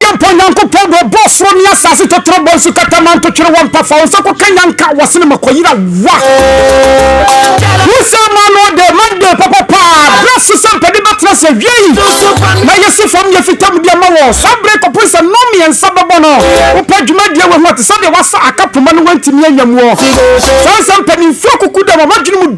Yɛmpɔ Nyankopɔn bɔ, Ɔbɔɔ soro ne asase tɔtrɔ, bɔɔ nsu kata maa ntotwere wɔ mpa fa, Wo nsa kɔka nyanka wɔ sene ma kɔyera wa. Wo sɛ ma no ɔdɛ, ma dɛ papa paa, berɛ so sɛ mpɛde bɛtena sɛ wiei, na yɛ se fam yɛ fitam deɛ ma wɔ, saa berɛ kɔpem sɛ nom mmiɛnsa bɛbɔ no, wo pɛ dwuma deɛ wahu ɔte sɛdeɛ wasa aka poma no wantumi anya muɔ, saa nsɛm pɛ ne mfuo kuku dam a wadwene mu.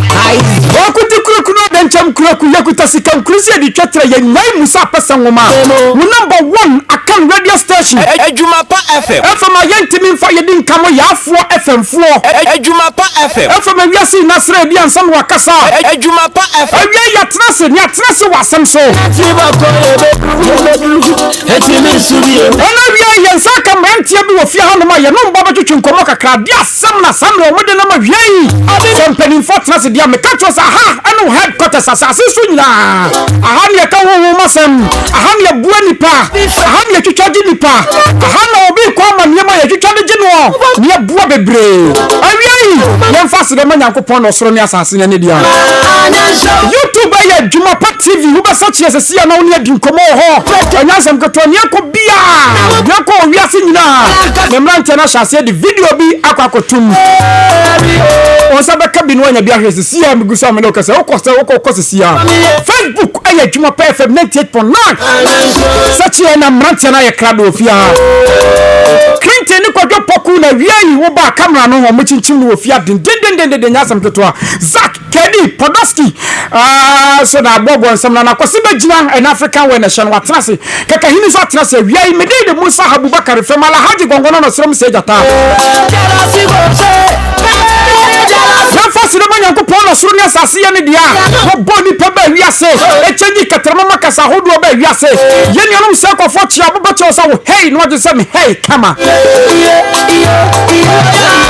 Wɔkuti kuraku no adankyɛm kuraku yɛkuta sika nkuru sɛ yɛde twa tra yɛn nyae mu sɛ apɛsɛ nwoma mu number one akan radio station. Adwuma pa FM. FM a yɛntumi mfa yɛdi nkamo yaafoɔ FM foɔ. Adwuma pa FM. FM a wiase nyinaa srɛ yɛdi ansa na wakasa. Adwuma pa FM. Awiei yɛatena ase na yɛatena ase wɔ asɛm so. Ti bakɔ yɛbɛduru ɛtumi nsu bio. Ɛna awiei yɛn nsa aka mmeranteɛ bi wɔ fie hanom a yɛne wɔn bɛtwetwe nkɔmmɔ kakra. Deɛ Samla Samla ɔmo de no ma wia yi. Sɛ mpaninfoɔ tena ase dea meka kyerɛ wo sɛ aha ɛne wo headquarters asase so nyinaa aha ne yɛka honhom asɛm aha ne yɛboa nipa aha ne yɛtwitwa gye nipa aha na obi kɔ ama nneɛma yɛtwitwa de gye noɔ ne yɛboa bebree awia yi yɛmfa ase bɛma Nyankopɔn na ɔsoro ne asase ne ne dea YouTube ɛyɛ adwuma pa TV wobɛsa kyeɛ sɛ sia na wo ne adi nkɔmmɔ wɔ hɔ ɛnyansɛm ketewa ne yɛkɔ biaa yɛkɔ owiase nyinaa ne mmeranteɛ no ahyɛ aseɛ Video bi akɔ akɔto mu. Wɔn nsa bɛka bi na wɔanya bi ahwɛ sisi a megu so a mene wokasa. Wokɔ sɛ wokɔ wokɔ sisi a. Facebook ayɛ adwuma pɛɛ fam 98.9. Sɛkyeɛ na mmeranteɛ no ayɛ krado wɔ fie ha. Clinton ne kwadwo pɔko na wia yi wobaa kamera no wɔn kyinkyim no wɔ fie ha dendendendenden nyɛ asɛm ketewa. Zach Kenney, Podolsky, aah, so na abɔ bɔ nsɛm na na Kwasi bɛgyina ɛna African wɛ na ɛhyɛ no watena ase, Kakahini nso atena ase awia yi, Medei de Musa Habubakar fam, Alahadji Gɔngɔnɔ na ɔsrɛ mu sɛ Agya taa. Yɛmfa sene ma Nyankopɔn na soro ne asase yɛ ne dea. Wɔbɔ nnipa baa wiase, ɛkyɛnyi kɛtɛrɛma ma kasa ahodoɔ baa wiase. Yɛn nuanom sɛ kɔfoɔ kyea, wobɛkyɛw sɛ wo hei na wɔgye sɛ me hei kama.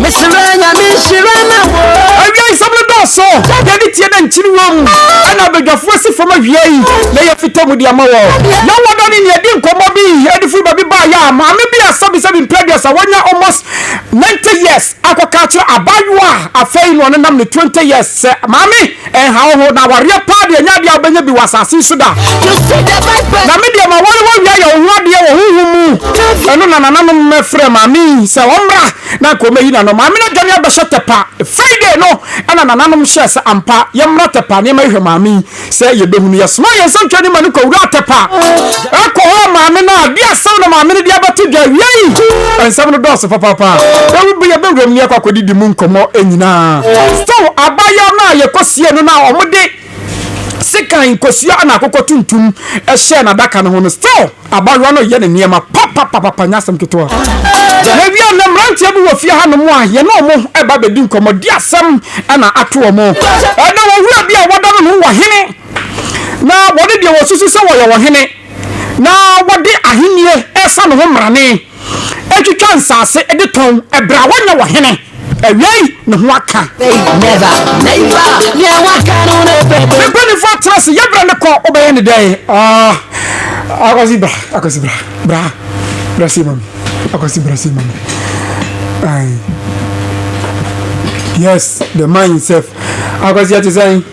Mesrɛ nyame nhyira ma wo. Awiei nsɛm no dɔɔso. Yɛde tie na nkyin wom. Ɛna abadwafoɔ asi fam awiei na yɛafita mu de ama wɔn. Yɛn wɔ dɔ ne nea ɛdi nkɔmmɔ bi adi firi baabi baeɛ a maame bi a sɛbisɛbi mprɛ aduasa wanya almost ninety years akɔka akyerɛ abaayewa a afei na ɔnenam ne twenty years sɛ, Maame! Ɛnhaw ho, na awareɛ paa deɛ ɛnyɛ adeɛ a wobɛnya bi wɔ asase yi so da. Na me deɛ m'aware wɔ wia yɛ wo ho adeɛ wɔ honhom mu. Ɛno na nananom frɛ maame yi sɛ ɔmmra na anka ɔmɛyi n'ano. Maame no adwane abɛhyɛ Tɛpa. Friday no na nananom hyɛɛ sɛ ampa yɛmmra Tɛpa na yɛmmɛhwehwɛ maame yi sɛ yɛbɛhu no. Yɛsomaa yɛn nsɛmtwerɛni ma no kɔwuraa Tɛpa. Ɛkɔhɔɔ maame no a, de asɛm na maame no de abɛto dwa. Awiei, nsɛm no dɔɔso papaapa. Ewu bere a yɛbɛwuram no, yɛkɔ akɔdidi mu nkɔmmɔ nyinaa. Stow abaayewa no a yekosiee no no a wɔde sekan nkosua na akokɔ tuntum hyɛɛ n'adaka no ho no. Stow abaayewa no reyɛ ne nneɛma papapapaapa, ɛnyɛ asɛm ketewa. Yɛwiee no, na mmeranteɛ bi wɔ fie hanom a yɛne wɔn reba abɛdi nkɔmmɔ, de asɛm na ato wɔn. Na wɔn wura bi a wɔda no no wɔ he? na wɔne deɛ wɔsusu sɛ wɔyɛ ɔhene na wɔde ahennie resa ne ho mmarane atwitwa nsase de tɔn ɛberɛ a wɔnyɛ ɔhene. Awiei ne ho aka. Ne mpanimfoɔ atena ase yɛ berɛ ne kɔ wobɛyɛ ne dɛn? Akwasi bra, akwasi bra, bra, bra sei ma me, akwasi bra sei ma me. Yes, the man himself. Akwasi ɛte sɛn?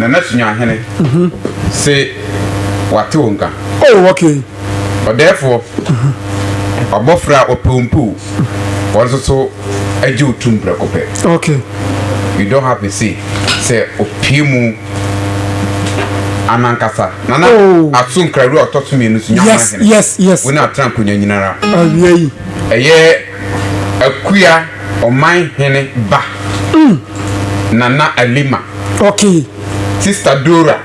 Nana Suahene se wate wo nka. Oh okay. Ɔdɛɛfoɔ, Ɔbɔfra a ɔpɛ wo mpo o, wɔn nso so gye wo tum prɛko pɛ. Okay. You don't have a say sɛ opue mu anankasa. Nana Oh. Aso Nkrahwire a ɔtɔ so mmienu so Nyankman Yes, Hene yes, yes. wo na atena nkonya nyinara. Awiei. Ɛyɛ. Akua ɔman hene ba, Nana Alima. Okay. Sista Dora,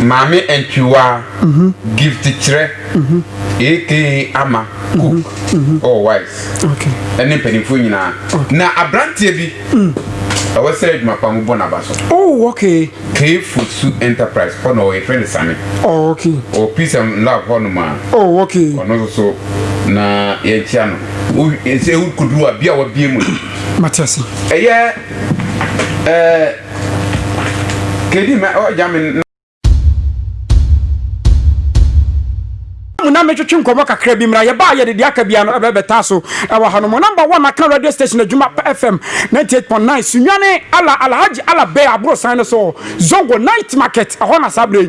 Maame Antwiwaa, Gift Kyerɛ, aka Ama, Cook, oh wise, ɛne mpaninfoɔ nyinaa. Na abranteɛ bi, ɛwɔ sɛ adwuma pa mobɔ n'aba so. Oh okay. Cave food su enterprise hɔ na ɔwɔ yɛfrɛ no sane oh okay ɔwɔ peace and love hɔ nom a oh okay ɔno nso so na yɛnkyia no wo ɛsɛ wo koduru a bia wabie mu no mate ase ɛyɛ ɛɛ kedi ma ɔgya me Ɛda mu na metwetwe nkɔmmɔ kakra bi mmra. Yɛba a yɛde deɛ aka biara no ɛbɛ bɛtaa so ɛwɔ hanom. Number one aka radio station adwuma pa FM ninety eight point nine Sunyani ala Alhaji Ala Bey aborosan no so Zongo night market ɛhɔ na saa berɛ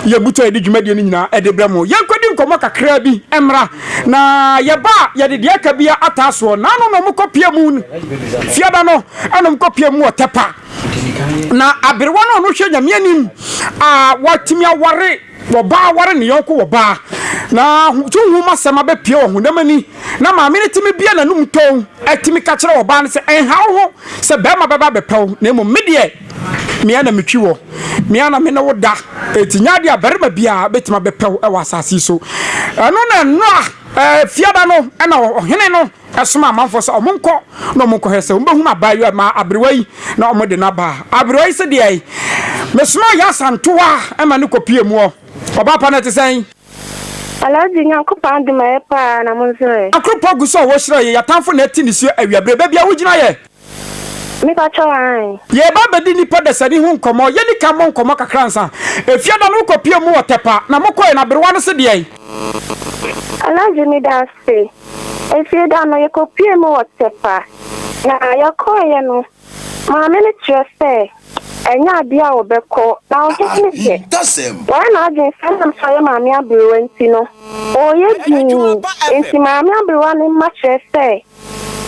yi yɛn butu a yɛde dwumadie no nyinaa ɛde brɛ mo. Yɛnkɔdi nkɔmmɔ kakra bi mmra na yɛba a yɛde deɛ aka biara ataa soɔ. Naano na wɔkɔ pia mu fiada no ɛna wɔkɔ pia mu wɔ Tɛpa na aberewa no a ɔno hwɛ Nyame anim a watumi aware Ɔbaa ware ne yɔnko ɔbaa, na honhom asɛm abɛpue wɔ honam ani, na maame no tumi bue n'anom tɔnn tumi ka kyerɛ ɔbaa no sɛ, Nha wo ho sɛ barima bɛba abɛpɛ wo, na mmom me deɛ, me ara na metwi wo, me ara na me ne wo da, enti nyɛ adeɛ a barima biara bɛtumi abɛpɛ wo wɔ asase yi so. Ɛno na Noa fiada no na ɔhene no somaa amanfoɔ sɛ wɔn nkɔ na wɔn nkɔhwɛ sɛ wɔn bɛhunu abaayewa ma aberewa yi na wɔn de no aba aberewa yi sɛ deɛ mesomaa yɛ asantoa ɛma ne kɔpie mu ɔ ɔbaa pa no ɛte sɛn. Alhaji nyankopɔn adom ayɛ paa na mo nso ɛ. Akoropɔ gu so a wɔhyira yɛ. Yɛatamfo na ɛte nisuo awiabire. Baabi a wogyina yɛ. Mepa kyɛw ae. Yɛreba abɛdi nnipa dasani ho nkɔmmɔ. Yɛnni kan mmɔ nkɔmmɔ kakra ansa. Efiada no wokɔpiee mu wɔ Tɛpa, na mokɔe no aberewa no se deɛn? Alagye meda ase. Efiada no yɛkɔpiee mu wɔ Tɛpa, na yɛkɔeɛ no maame no kyerɛ sɛ ɛnyɛ adeɛ a wɔbɛkɔ, na ɔhene no deɛ wayɛ n'adwene sɛ ɛnam sɛ ɔyɛ maame aberewa nti no ɔreyɛ dinn, enti maame aberewa no mma kyerɛ sɛ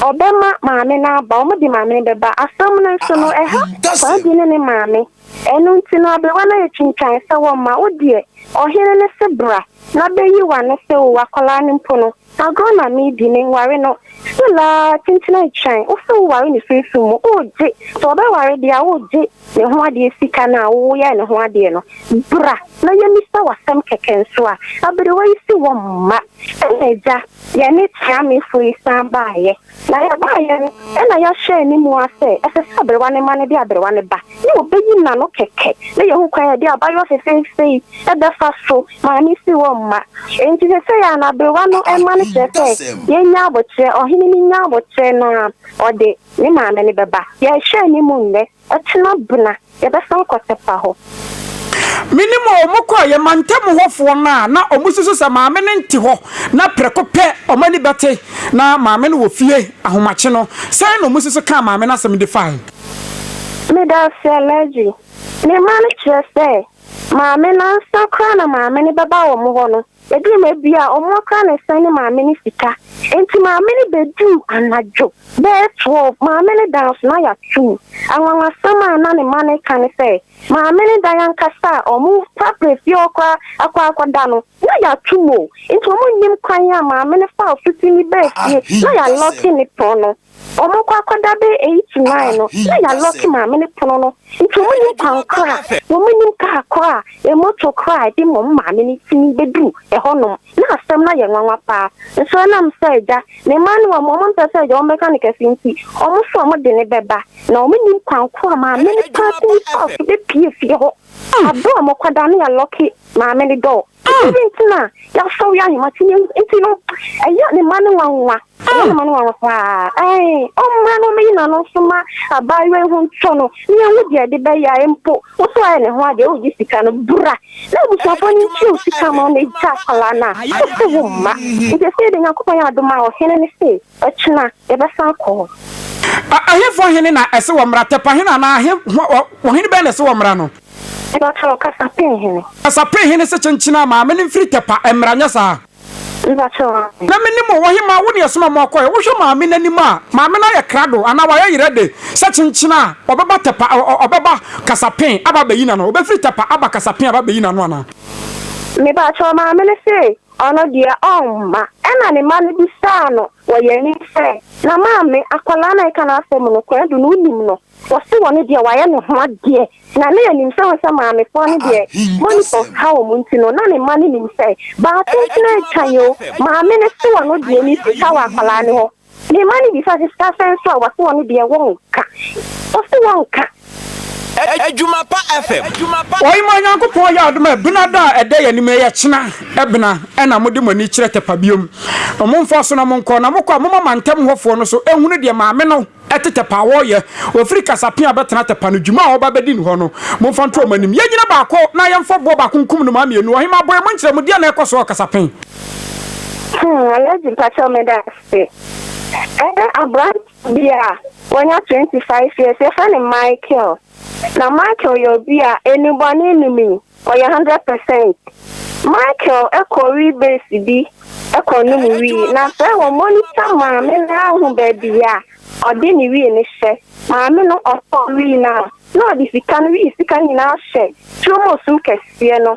Ɔbɛma maame no aba, wɔde maame no bɛba. Asɛm no nso no, ɛha Kwadu ne ne maame. Ɛno nti no, aberewa no ayɛ twintwan sɛ wɔmma wo deɛ, ɔhene no se bra na bɛyi w'ano sɛ oo, akwadaa no mpo no, agorɔ na meredi, menware no. Still ara, kyenkyena retwɛn wo sɛ woware no sunsum mu. Wogye? Sɛ wɔbɛware deɛ a, wogye? ne ho adeɛ sika no a woyɛɛ ne ho adeɛ no, bra na yɛmmisa wo asɛm kɛkɛ nso a, aberewa yi se wɔn mma. Ɛna agya, yɛne Teamefoɔ yi san baeɛ, na yɛbaeɛ no, ɛna yɛahyɛ anim ara sɛ ɛsɛ sɛ aberewa no mma no de aberewa no ba, na wɔbɛyi n'ano kɛkɛ, na yɛahu kwan a yɛde abaayewa fefeefe yi bɛfa so. Maame se wɔn mma. Enti seesei ara no, aberewa no mma no kyerɛ sɛ yɛnnya aboterɛ, ɔhene no nnya aboterɛ na ɔde. ne maame no bɛba. Yɛrehwɛ ne mu nnɛ, ɔkyena bena yɛbɛsan kɔ Tepa hɔ. Menim o, wɔkɔeɛ, mantam hɔfoɔ no a na wɔsusu sɛ maame no nte hɔ, na prɛko pɛ wɔn ani bɛte na maame no wɔ fie ahomakye no, sɛn na wɔsusu kaa maame no asɛm de fae? Medase Alhaji. Ne mma no kyerɛ sɛ maame no ansa koraa na maame no bɛba wɔn hɔ no, Eduu baabi a wɔakora ne sɛn ne maame no sika nti, maame no beduu anadwo bɛyɛ twelve. Maame no dan so na yɛato mu. Anwanwasɛm a na ne mma no reka ne sɛ, Maame no dan ankasa a wɔrepirapira fie hɔ koraa akɔ akɔda no, na yɛato mu o! Nti wɔnnim kwan a maame no faa ɔfoti mu baa fie na yɛalɔke ne pono. Ɔmo kɔ akɔda bɛyɛ eight to nine no na ya lɔk maame no pono no nti ɔmo nim kwan koro a ɔmo nim kaa koro a emoto koro a ɛde ma ɔmo maame no tumi bɛduru ɛhɔ nom na asɛm no ayɛ nwanwa paa nso ɛnam sɛ agya ne mma no wɔn ɔmo mpɛ sɛ agya wɔn bɛka no kɛse nti ɔmo sɛ ɔmo de no bɛba na ɔmo nim kwan koro a maame no paa tumi faa so bɛpie fie hɔ abere a ɔmo kɔda no ya lɔke maame no dɔɔ. Nti bi nti na yɛasɔ wia ahema ti nti no ɛyɛ ne ma no nwanwa ɛyɛ ne ma no nwanwa paa ɛn ɔmmra no ɔmɛyi n'ano nso ma abaayewa yi ho ntɔ no ne yɛhu deɛ ɛde bɛyɛ a mpo wo so ayɛ ne ho adeɛ wogye sika no bra na abusuafoɔ no nkyerɛ wo sika ma ɔmɛgya akwadaa no a wose wo mma nti ɛsɛ yɛde nyankopɔn yɛ adom a ɔhene ne se Ɔkyena yɛbɛsan akɔ hɔ. Ahenfo hene na ɛse wɔmmra? Tɛpa hene anaa he, ɔhene bɛn na ɛse wɔmmra no? Mepakyɛw, Kasape hene. Kasape hene se kyenkyena ma me ne mfiri Tɛpa mmra, nyɛ saa? Mepakyɛw, aane. Na menim o, ɔhemaa, wo ne ɛsoma mo akɔɛ, wohwɛ maame no anim a, maame no ayɛ krado anaa wayɛ yerɛ de, sɛ kyenkyena a, ɔbɛba Tɛpa, ɔbɛba Kasape aba abɛyi n'ano, ɔbɛfiri Tɛpa aba Kasape aba abɛyi n'ano anaa? Mepakyɛw, maame no se Ɔno deɛ ɔmma. Ɛnna ne mma no bisaa no wɔ yɛn anim sɛ, Na maame, akwadaa no a yɛka n'asɛm no, Kweadu no, wonim no? Wɔse wɔn deɛ wɔayɛ ne ho adeɛ. Na na yɛnim sɛ wohu sɛ maamefoɔ no deɛ monitors ka wɔn nti no, na ne mma no nim sɛ, Baa tenten atwan o, maame no se wɔn deɛ ne sika wɔ akwadaa no hɔ. Ne mma no bisaa sɛ, Sika asan nso a? Wɔse wɔn deɛ wɔnka. Wɔse wɔnka. Adwuma pa FM. Ɔye ma Nyankopɔn yɛ adom a bena da a ɛda yɛn anim yi yɛ kyena bena na mode mo ani kyerɛ tɛpa biom no mo mfa so na mo nkɔ na mo kɔ a moma mantam hɔ foɔ no so nhunu deɛ maame no te tɛpa a ɔyɛ ɔfiri kasapea bɛtena tɛpa no dwuma a ɔba bɛdi no hɔ no momfa nto ɔmo anim yɛnyina baako na yɛmfa boɔ baako nkum nnomaa mmienu ɔhemaa boe monkyerɛ mu deɛ na ɛkɔ so wɔ kasapen Hmm, Alhaji mpakyɛw meda ase. Ɛyɛ aberante bi a wanya 25 years, yɛfrɛ no Michael. Na Michael yɛ obi a enubɔne nni mu, ɔyɛ 100 percent. Michael kɔ wii base bi kɔ nom wii, na sɛ wɔ monitor maame no ara hu baabi a ɔde ne wii no hyɛ. Maame no ɔtɔ wii no a, na ɔde sika no wii sika nyinaa hyɛ turomo sum kɛseɛ no.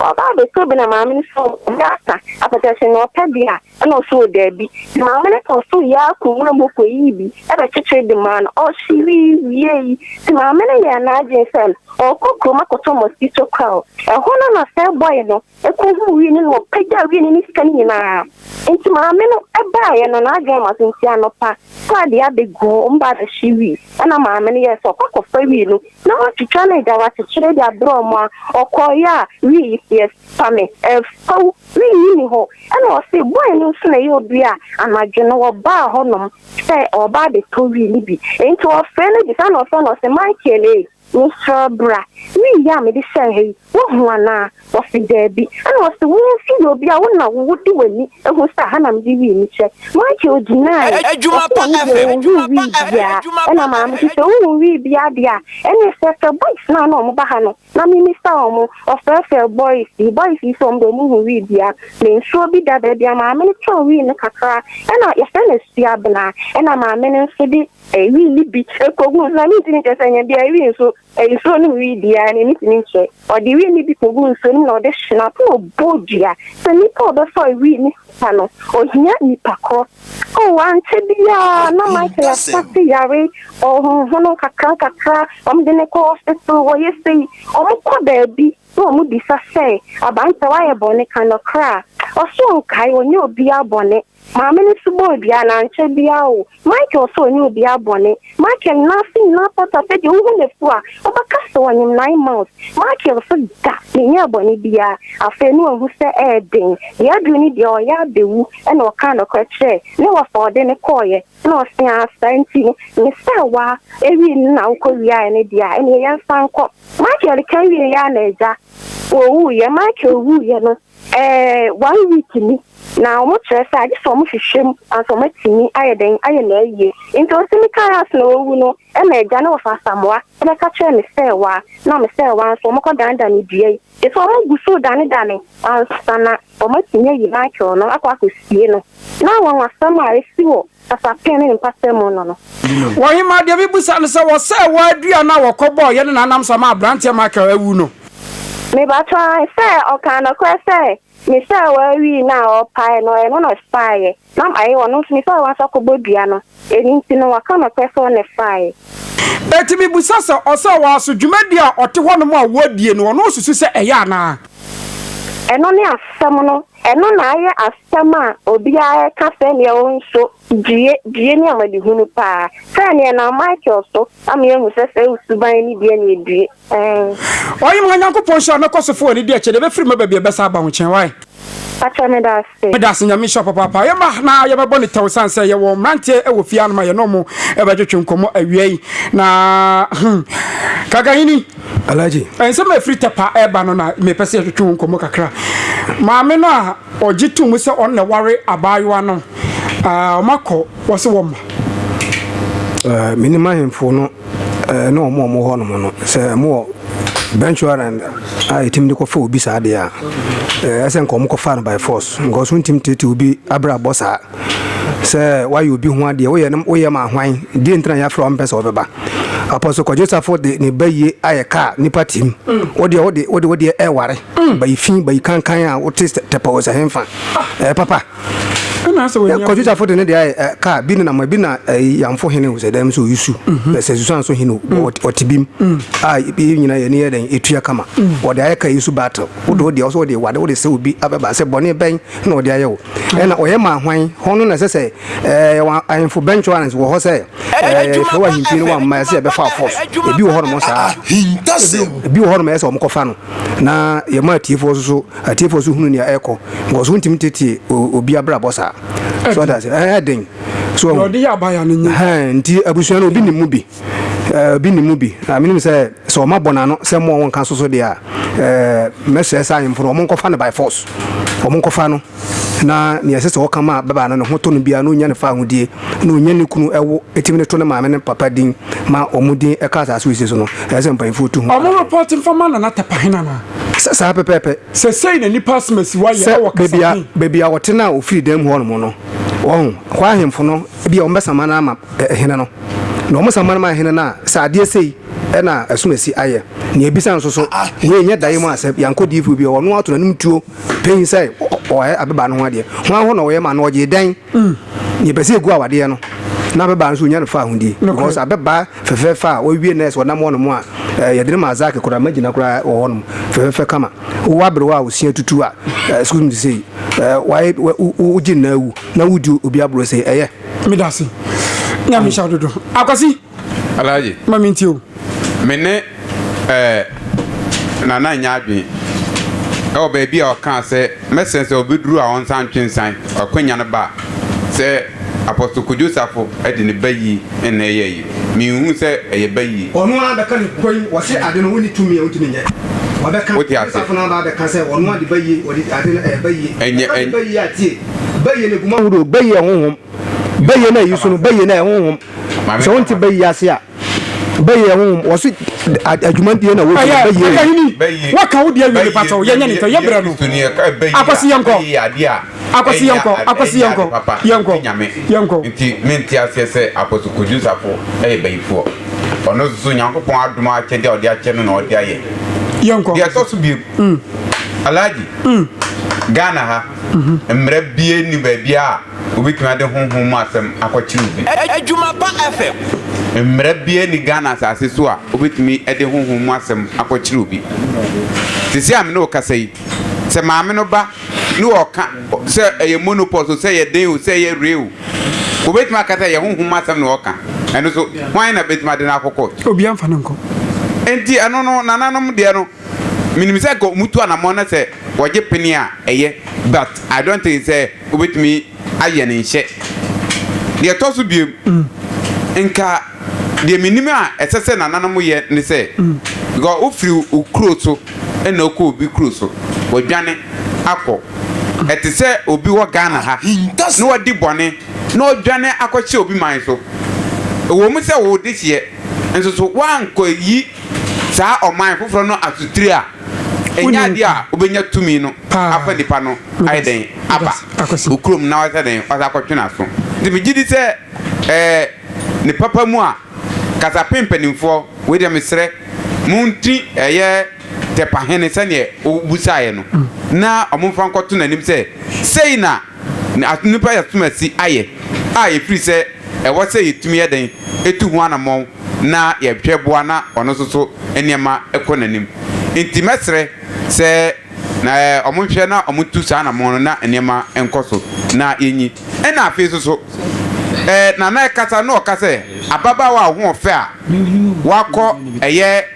Ɔba abɛsi obi na maame no sɛ ɔwɔ mmerɛ asa apata sɛ na ɔpɛ deɛ a, ɛna ɔse wɔ daabi. Nti maame no kɔɔ soro yɛɛ akɔ nwura mu kɔ yii bi bɛkyekyere de maa no. Ɔhyewee wiee yi, nti maame no yɛɛ n'adwene sɛ ɔɔkɔ kurom akɔtɔ mosquito coil. Ɛhɔ no na sɛ boy no kɔ huu wii no na ɔpagyaa wii no ne sika no nyinaa. Nti maame no baaeɛ no n'adwene ama so nti anɔpa saa deɛ abɛgu hɔ ɔmo baa bɛhye wii ɛna maame no yɛɛ sɛ ɔkɔ akɔfa wii no Na watwitwa ne da wakyekyere de abrɛ ɔmo a ɔkɔɔeɛ a wii yi seɛ fa me ɛf faw wii yi ni hɔ ɛna ɔse bɔɔe no nso na ɛyɛ obi a anadwo no ɔbaa hɔ nom sɛ ɔɔba abɛtɔ wii no bi nti ɔfrɛ no bisa na ɔfrɛ no ɔse Michael ee mesrɛ bra wii yi a mede hyɛɛ ha yi Woahu anaa? Wɔse, Daabi. Ɛna ɔse, Wo nso yɛ obi a wo na wo wode w'ani ahu sɛ aha na mede wii me kyɛ. Michael gyinae, ɔse ɔno deɛ ɔnhuu wii biaa. Ɛna maame se, Sɛ wohu wii biaa deɛ a, ɛneɛ fɛɛfɛ boys no a na wɔba ha no na memmisa wɔn. Ɔfɛɛfɛɛ boys yi, boys yi se wɔn deɛ wɔn nhu wii biaa. Me nso bi da. Baabi a maame no tɔn wii no kakra ɛna yɛfrɛ no Asuabena. Ɛna maame no nso de wii no bi kɔguu nso na mentumi nkyerɛ sɛ ɛnyɛ biaa wii nso Nsuo no mu wi biara no, ani tumi nkyɛ. Ɔde wi no bi kɔgu nsuo no mu na ɔde hye no ato ɔbɔ dua. Sɛ nnipa a wɔbɛfa wi no sika no, ɔhia nipa korɔ. O, ankyɛ biara na Michael asase yare, ɔhonhono nkakra nkakra, wɔde no kɔ hospital, wɔyɛ sei. Wɔkɔ baabi na wɔbisa sɛ, Abankyɛ, woayɛ bɔne? Ka nɔkorɛ a, ɔse ɔnkae, ɔnyɛ obiara bɔne. Maame no nso bɔɔ dua, na ankyɛ biara o, Michael sɛ ɔnyɛ obiara bɔne. Michael nyinaa ase nyinaa pata, sɛ deɛ wohu no afu a, wobɛka sɛ ɔnyem nine months. Michael nso da, menyɛɛ bɔne biara. Afei na wahu sɛ ɛyɛ den, deɛ aduru ne deɛ ɔyɛ abɛwu, ɛna ɔkaa nɔkorɛ kyerɛɛ ne wɔ fa ɔde no kɔeɛ, na ɔse aa saa nti no, me sɛ wa awie no na wokɔ wiaɛ no deɛ a, ɛneɛ yɛnsan nkɔ. Michael ka wieeɛ a na agya, ɔwuiɛ, Michael wuiɛ no, Eh, one week ni, na wɔn kyerɛ sɛ agye sɛ wɔn hwehwɛ mu ansa wɔn atumi ayɛ dɛn ayɛ no ayie. Nti ɔse me kaa ase na wawu no, ɛna agya no wɔfa Asamoah bɛka kyerɛɛ me sɛɛwaa, na me sɛɛwaa nso wɔn kɔ dane dane dua yi, gye sɛ wɔn gu so dane dane ansa na wɔn atumi ayi Michael no akɔ akɔ sie no. Na wɔn asɛm a esi wɔ. kasa pɛn ne mpasɛm mu no no. Ɔhemmaa deɛ mebisa no sɛ wɔsɛɛ wɔ aduane a wɔkɔbɔɔ yɛne n'anam sa ma aberanteɛ Michael awu no. Mebatɔ sɛ ɔkaa nɔkorɛ sɛ mesɛɛ wɔ awi no a ɔpaeɛ no ɛno na ɔfaeɛ na maye ɔno nso mesɛɛ wɔ nso akɔbɔ dua no ɛno nti no waka nɔkorɛ sɛ ɔne faeɛ. Eti mebusa sɛ ɔsɛɛ wɔ aso dwumadie a ɔte hɔ nom a wɔdie no ɔno ɔsusu sɛ ɛyɛ anaa. Ɛno ne asɛm no. Ɛno na ayɛ asɛm a obiara reka sɛnea ɔnso due due ne amanehunu paa. Sɛ nea ɛnam Michael so ama yɛahu sɛ saa suban no due na edue. Ɛɛ. Ɔye ma Nyankopɔn nhyira mɛkɔ so fo w'ani deɛ kyɛ deɛ ɛbɛfiri mɛba bia ɛbɛsan aba wo nkyɛn why? Pakyɛ meda ase. Meda ase Nyame nhyira wo papaapa ɔyɛ ma na yɛ bɛbɔ no tɛw ɛsane sɛ yɛwɔ mmeranteɛ ɛwɔ fie ha no ma yɛne ɔmo ɛbɛtwetwe nkɔmmɔ awia yi na hmm Kakahini. Alhaji. Nsɛm a ɛfiri Tɛpa reba no na mepɛ sɛ yɛtwetwe ho nkɔmmɔ kakra. Maame no a ɔgye to mu sɛ ɔno na ɛware abaayewa no, wɔakɔ, wɔse wɔmma. Menim ahemfo no ne wɔn a wɔwɔ hɔnom no, sɛ wɔwɔ bench warrant a ɛtumi de kɔfa obi saa deɛ a, ɛsɛ nka wɔkɔfa no by force because wontumi teetee obi abrabɔ saa. Sɛ woayɛ obi ho adeɛ, woyɛ no woyɛ ma hwan? Deɛ nti na yɛafrɛ wo mpɛ sɛ wɔbɛba. Apɔso Kwadwo Safo de ne bayie ayɛ kaa nipa tim. Wodeɛ wode wode wodeɛ ɛware. Bayi fi bayi kankan a wote tɛpɛ wɔ sɛ henfa. Ɛɛ papa. Kwadwo Safo de ne deɛ ayɛ eh, kaa bi ne nam bi na eh, yamfo hene wɔ sɛ dɛm so yusu. Na sɛ susan so hene ɔte bim. A yɛ nyina yɛ ne yɛ dɛn etua kama. Wɔde ayɛ kaa yi so battle. Wode wodeɛ ɔsɛ wode wade wode sɛ obi abɛba sɛ bɔne bɛn na wɔde ayɛ wo. Ɛna ɔyɛ maa hwan? Hɔ no na ɛsɛ sɛ yɛwɔ ahemfo bɛnkyɔrans wɔ hɔ sɛ yɛhwɛ wɔ ahempie no wamma ɛsɛ yɛbɛfa fɔs. Ebi wɔ hɔnom saa. Ebi wɔ hɔnom ɛyɛ sɛ wɔkɔfa no na yɛma atiefoɔ nso so atiefoɔ nso hunu nea ɛrekɔ because wontumi tetie obi abrabɔ saa. So ɔda ase ɛyɛ den. So nti abusua no obi nim mu bi. Eh, obi nim mu bi. Na menim sɛ, sɛ ɔma bɔ n'ano sɛ mo a wɔnka so so deɛ a, eh, mɛsrɛ sɛ ahemfo no, wɔnkɔfa no by force. Wɔnkɔfa no, na nea ɛsɛ sɛ ɔka ma ababaa no ne ho tɔ no biara, na ɔnya no fawohodie, na ɔnya ne kunu ɛwo, ɛtumi de to ne maame ne ne papa din, ma wɔn din ka asaase wesee so no. Ɛsɛ sɛ mpanyimfoɔ tu ho. Wɔn report mfa ma Nana Tapahina no a. Sɛ, saa pɛpɛɛpɛ. Sɛsɛi na nnipa asimasiwa yɛ wɔ kasa baabi a, he? baabi a ɔte no a ɔfiri dan mu hɔ nom no, wɔahu, hɔ ahemfo no, ebia wɔbɛsama no ama eh, hene no. Na wɔn san ma no ma hene no a, sɛ adeɛ sei na asumasi ayɛ. Nea ebisa nso so, wei nyɛ daeɛ mu asɛm. Yankɔ diifoɔ bi hɔ, ɔno ato n'anom tuo pɛn sɛ ɔyɛ ababaa no ho adeɛ. Hwan hɔ na ɔyɛ ma no? Ɔgye dɛn? Nea ɛpɛ sɛ egu awadeɛ no, na ababaa no so onya no fa ahodie. Because ababaa fɛfɛɛfɛ a wawie nurse ɔnam hɔ nom a, eh, yɛde no ma Azaki koraa, magyina koraa wɔ hɔ nom, fɛfɛɛfɛ kama. Wowɔ aberewa a osia tutu a, eh, excuse me to say, eh, wayɛ, wogye no na awu, na wodi obi aborɔ sei, ɛyɛ? medase nyame hyɛ dodo akwasi alaye ma me ntie o me ne eh, nana nya adwen ɛwɔ baabi a ɔkaa sɛ mɛsɛn sɛ ɔbɛduru a ɔnsa ntwe nsan ɔkwanya no ba sɛ apɔso kodwo safo de ne ba yi nna ɛyɛ yi menhu sɛ ɛyɛ ba yi ɔno ara bɛka ne kwan wɔse ade no wonni tumi a ɔntumi nyɛ wɔbɛka wote ase safo no aba bɛka sɛ ɔno ade ba yi wɔde ade no ɛyɛ ba yi ɛnyɛ ɛyɛ ba yi atie Bɛyɛ na guma horow, bɛyɛ honhom, bɛyɛ na yi so no, bɛyɛ na honhom. Sɛ wɔn ti bɛyɛ ase a, bɛyɛ honhom. Wɔsi adwuma deɛ na wɔdwuma bɛyɛ. Ɛyɛ ɛyɛ hini. Wɔka wo deɛ wie patɔ. Yɛ nyɛ ne tɔ. Yɛ brɛ no. Akwasi yɛ nkɔ. Akwasi yɛ nkɔ. Akwasi yɛ nkɔ. Yɛ nkɔ. Yɛ nkɔ. Nti me nti aseɛ sɛ apɔso kojo safo ɛyɛ bayifoɔ. Ɔno soso nyankopɔn adom akyɛdeɛ a ɔde akyɛ no na ɔde ayɛ. Yɛ nkɔ. Deɛ ɛtɔ so biem. Alhaji. Ghana ha. Mmara biara nni baabi a wobɛtumi ade honhom mu asɛm akɔkyere obi. Adwuma pa FM. Mmara biara nni Ghana asase so a wobɛtumi de honhom mu asɛm akɔkyere obi. Seesei a me ne wo kasa yi, sɛ maame no ba ne ɔka sɛ ɛyɛ monopause o, sɛ ɛyɛ den o, sɛ ɛyɛ re o, wobɛtumi aka sɛ ɛyɛ honhom mu asɛm na ɔka. Ɛno nso, hwan na bɛtumi ade no akɔ court? Obiara mfa no nkɔ. Enti ɛno no, nananom deɛ no, Menim sɛ anka wɔtu anamɔn na sɛ wɔgye pene a ɛyɛ but I don't think sɛ wobɛtumi ayɛ no nhyɛ. Deɛ ɛtɔ so biom, nka deɛ menim a ɛsɛ sɛ nananom yɛ ne sɛ, because wofiri wo kuro so na wokɔ obi kuro so, wɔdwane akɔ. Ɛte sɛ obi wɔ Ghana ha na wadi bɔne na ɔdwane akɔhyɛ obi man so. Ɛwɔ mu sɛ wo dehyeɛ nso so woankɔyi Saa ɔman foforɔ no asotire a ɛnyɛ adeɛ a wobɛnya tumi no afa nnipa no ayɛ dɛn aba wo kurom na wasɛ dɛn wasa akɔtwe n'aso. Nti megye di sɛ ɛɛ ne papa mu a kasapen mpanimfoɔ wei deɛ mesrɛ mo nti ɛyɛ tɛpahene sɛdeɛ wobusaeɛ no na wɔmfa nkɔto n'anim sɛ sei na na nnipa asumasi ayɛ a efiri sɛ ɛwɔ sɛ yɛtumi yɛ dɛn tu ho anammɔn na yɛhwɛ boa na ɔno nso so nneɛma kɔ n'anim. Nti mɛsrɛ sɛ na wɔn nhwɛ na wɔn ntu saa anammɔn no na nneɛma nkɔ so na yɛnyi. Ɛna afei nso so Nana ɛkasa na ɔka sɛ ababaawa a ɔhoɔfɛ a wakɔ ɛyɛ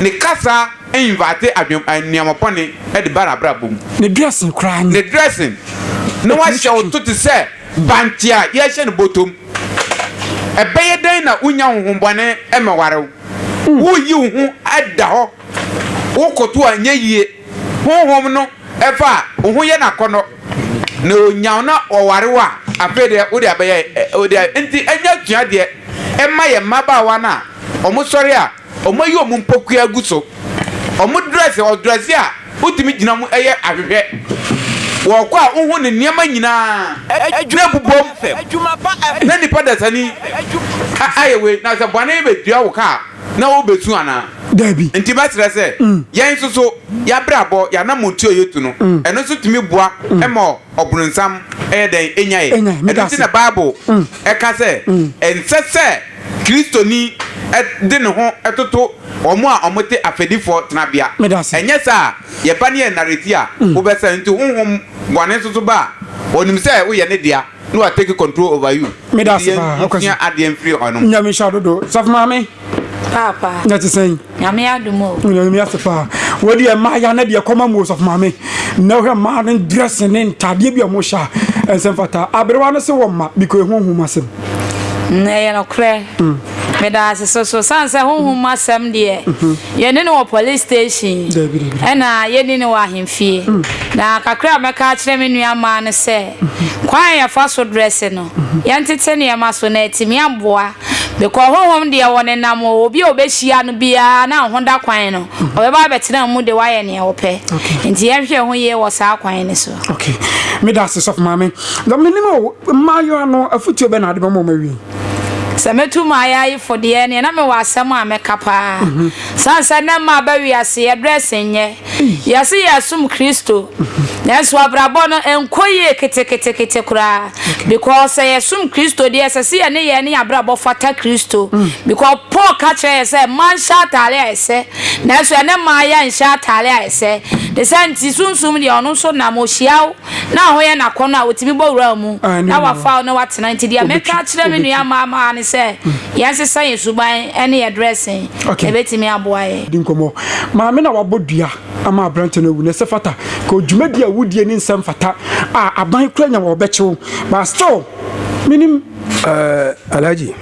Ne kasa invite adwen nneɛma bɔne de ba n'abrabɔ mu. Ne dressing koraa no. Ne dressing. Na wahyɛ wo so te sɛ bankye a yɛahyɛ no bɔtɔm. Ɛbɛyɛ dɛn na wonnya honhommɔne mmɛware wo? Woyi wo ho da hɔ, wokoto a ɛnyɛ yie. Honhom no fa wo ho yɛ no akɔnnɔ, na ɔnya wo na ɔware wo a, afei deɛ wode abɛyɛ wo deɛ. Enti ɛnyɛ asuadeɛ mma yɛn mmabaawa no a wɔsɔre a. Wɔayi wɔn mpokua agu so. Wɔdrɛs yɛ ɔdrɛse a wotumi gyina mu yɛ ahwehwɛ. Wɔkɔ a wohu ne nneɛma nyinaa. Adwuma bobom na nipa dasani ayɛ wei. Na sɛ bɔne bedua wo ka a, na wobesu anaa? Dabi. Enti mɛsrɛ sɛ yɛn nso so y'abrabɔ, y'anamɔntu a yetu no, ɛno nso tumi boa ma ɔbronsam yɛ dɛn? Enya yɛn. Ɛno nti na Bible ka sɛ ɛnsɛ sɛ. Kristoni de ne ho toto wɔn a wɔte afɛdifoɔ tenabea. Ɛnyɛ saa a, yɛba no yɛ nnareti a, wobɛsɛe. Nti honhom bɔne nso so ba a, ɔnim sɛ woyɛ ne dea na wa take control over you. Nti yɛnsua adeɛ mfiri hɔnom. Nyame nhyira dodo. Sɔfo maame. Paapa. Na ɛte sɛn? Nyame adom o. Nyame mi ase paa. Wei deɛ mmaa ya na deɛ kɔma mu osɔfo maame. Na wohwɛ mmaa no dressing ne ntaadeɛ bi a wɔn hyɛ a ɛnsɛm fata. Aberewa no se wɔ mma because ehu ohun mu asɛm. Na ɛyɛ nokorɛ. Meda ase so so san sɛ honhom mu asɛm deɛ yɛne no wɔ police station ɛna yɛni no wɔ ahemfie. Na kakra a mɛka akyerɛ me nua mmaa no sɛ kwan a yɛfa so dressing no yɛntete nneɛma so na atumi aboa Mekɔɔ honhom deɛ wɔnenam o, obi a ɔbɛhyia no biara na ho da kwan no, ɔbɛba abɛtena wo mu de woayɛ neɛ wopɛ. Nti yɛnhwɛ yɛn ho yie wɔ saa kwan no so. Okay. Meda ase sɔfo maame. Na menim o, mmaayewa no afotuo bɛn na wode bɛma wɔn awie? Sɛ mɛtu m'ayaayefo deɛ, neɛ na mewɔ asɛm a mɛka paa. Sane sɛ nnɛ mmaa aba wiase, yɛdress nyɛ. Yɛse yɛsom Kristo nanso abrabɔ no nkɔ yie keteketekete koraa because sɛ yɛsom Kristo deɛ ɛsɛ sɛ yɛn nneyɛɛ ne yɛn abrabɔ fata Kristo because Paul ka kyerɛ yɛn sɛ mmaa nhyɛ ataare a ɛsɛ nanso ɛnnɛ mmaa yɛnhyɛ ataare a ɛsɛ ne saa nti sunsum deɛ ɔno nso nam ohyiaw Na ɛhɔ yɛ n'akɔnnɔ a otumi bɔ wuram mu na wafa hɔ na watena. Enti deɛ mɛka akyerɛ me nua mmaamaa ne sɛ, yɛnsesa yɛn suban ne yɛn dressing. Ɛbɛtumi aboa yɛn. Di nkɔmmɔ. Maame na wabɔ dua ama aberante no awu, na ɛsɛ fata. Kɔ dwumadi a wodie ne nsɛm fata a aban kura nya wɔ ɔbɛkye wo. But still, menim. Eh, Alhaji.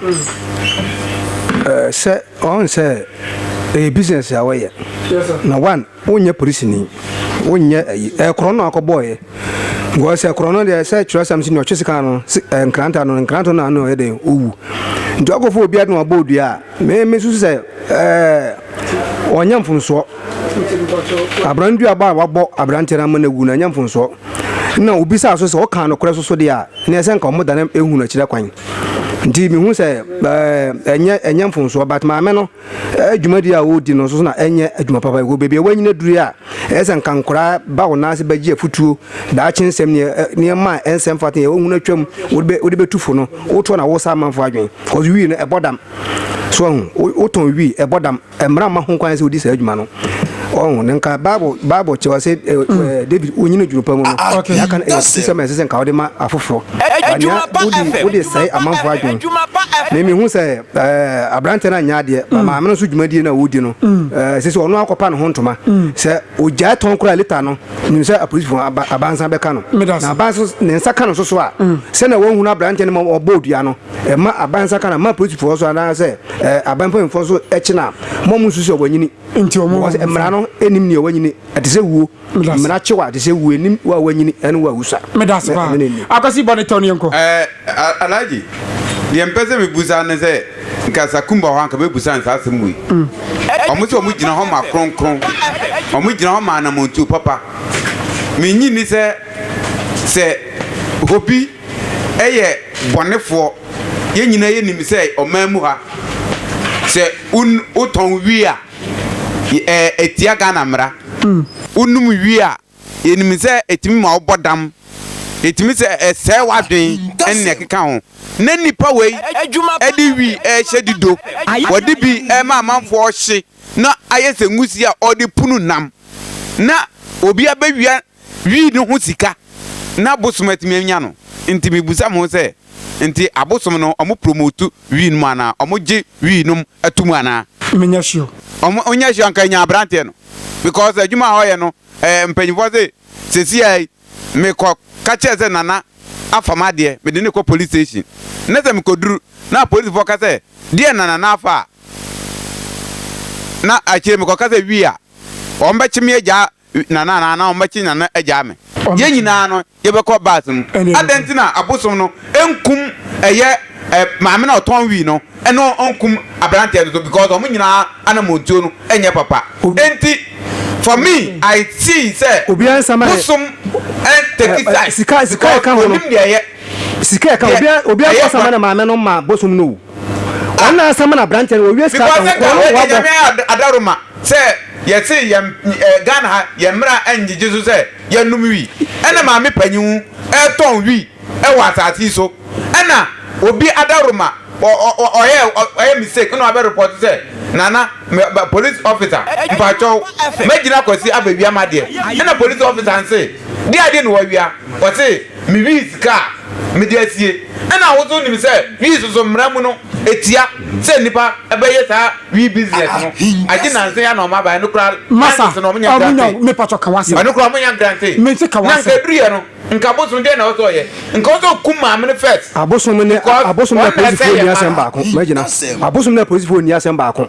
Eh, sɛ, ɔhu sɛ ɛyɛ business a wɔyɛ. Yes sir. Na one, Wonyɛ polisini, wonyɛ ayi. Ɛyɛ korɔno na wakɔbɔɔeɛ. Because sɛ korɔno deɛ sɛ twerɛsɛm nso nea ɔtwe sika no eh, nkranta no, nkranta no ano ɔyɛ dɛn owu. Nti wakɔfa obi ade na wabɔ odua a, me me susu sɛ eh, ɔnyɛ mfomsoɔ. Abran dua ba a wabɔ aberanteɛ no ama no awu no ɛnyɛ mfomsoɔ. Na obisaa so sɛ ɔkaa nokorɛ so so deɛ a, na ɛsɛ nka wɔn dane ehu no akyire kwan. Nti mehu sɛ eh, ɛnyɛ ɛnyɛ mfomsoɔ but maame no Dwumadi a woredi no nso na ɛnyɛ adwuma papa. Ɛwɔ baabi a woanyin aduru a ɛyɛ sɛ anka nkwadaa ba wo nan ase bɛgye afotuo, daakye nsɛm, nneɛma a ɛnsɛ mfata, nea wohunu atwam, wode bɛtu fo no, wotoɔ na wosa amanfoɔ adwene. Because wii no, ɛbɔ dam. So ahu, wotɔn wii, ɛbɔ dam. Mmara mma ho kwan sɛ wodi saa adwuma no. Ɔho, na nka Bible, Bible kyerɛ sɛ eh, hmm. eh, David wonyini adwuma pa mu no, ah, ah, yɛaka no ɛyɛ sɛ ma ɛsɛ sɛ nka wode ma afoforɔ. Wode sɛe amanfoɔ adwene. Memihu sɛ aberanteɛ no anyɛ adeɛ ma mm. maame no nso dwumadie no a wɔdi no mm. sɛ sɛ ɔno akɔpa ne ho ntoma mm. sɛ ɔgyae tɔn koraa leta no nim sɛ apolisifoɔ abansa bɛka no na abansa ne nsa ka no nso so a sɛnea wɔhunu aberanteɛ no ma ɔbɔ odua no ɛma abansa ka no ma apolisifoɔ so anaasɛ aban mpanimfoɔ so kyena mɔmu nso sɛ ɔwanyini mmara no ɛnim neɛ ɔwanyini ɛte sɛ wuo mmara kye wɔ ade sɛ wo anim wo a wanyini ne wo a wusua medase paa akwasi bɔ ne tɛw ne yɛnkɔ eh, alagye deɛ mpɛ sɛ mebusa ne sɛ nka sakumba hɔ anka bɛbusa ne saa asɛm wei ɔmo mm. sɛ ɔmo gyina hɔ ma kronkron ɔmo gyina hɔ ma anamontuo papa menyi ni sɛ sɛ hobi ɛyɛ bɔnefoɔ yɛn nyinaa yɛnim sɛ ɔman mu ha sɛ wotɔn wii a Etia Ghana mmara. Wonom wie a, yɛnim sɛ ɛtumi ma wobɔ dam, ɛtumi sɛ ɛsɛe w'adwene ne nea ɛkeka ho. Na nnipa wei de wi rehyɛ dido, wɔde bi rema amanfoɔ rehye na ayɛ sɛ nwusie a wɔde pono nam. Na obiara bɛwia Wii no ho sika na bosom atumi anya no nti mebisa mo sɛ nti abosom no ɔmo promote wii nom anaa ɔmo gye wii nom tom anaa. Menya sure. Ɔmo nya sure anka enya abranteɛ no because adwuma a ɔyɛ no ɛɛ mpanyinfoɔ se sɛsi a yi me kɔ ka kyerɛ sɛ nana afa madeɛ me de no kɔ police station na sɛ me kɔ duru na apolisifoɔ ka sɛ deɛ na nana afa a na akyire me kɔ ka sɛ wii a wɔn bɛkye me agyaa Nana anaa na wɔbɛkye Nana agyaa me. Yɛn nyinaa no, yɛbɛkɔ bus mu. Adɛn nti na abosom no nkum ɛyɛ maame no a ɔtɔn wii no ne ɔnkum aberanteɛ no nso because wɔn nyinaa anamɔntuo no nyɛ papa. Enti for me I see sɛ bosom take side because ɔnim deɛ ɛyɛ, deɛ ɛyɛ bɔne. Ana asɛm no aberanteɛ no wɔ wiase ka Because nka wo agya nyame ayɛ adaroma sɛ yɛse yɛn Ghana ha yɛn mmra ngyegye so sɛ yɛnnom wi ɛna maame panyin ɛtɔn wi ɛwɔ asase yi so ɛna obi adaroma ɔyɛ ɔyɛ mistake ɛna wabɛ report sɛ nana police officer mpakyɛw mɛgyina kwasi abɛwia madeɛ ɛna police officer nse deɛ adeɛ na wawia ɔse Me wii sika a mede asie. Ɛna ahosuo nim sɛ wii soso mmara mu no ɛtia sɛ nnipa bɛyɛ saa wii business no agye nansa yi ana ɔmo abaɛ ɛno koraa Masa na ɔmo nya grante me pacho ka wasem ɛno koraa ɔmo nya grante me nse ka wasem na nka ɛduru yɛ no nka bosom deɛ na ɔsɛ ɔyɛ nka ɔsɛ ɔkum maame no first abosom ne abosom na polisifoɔ ni asɛm baako magyina abosom na polisifoɔ ni asɛm baako.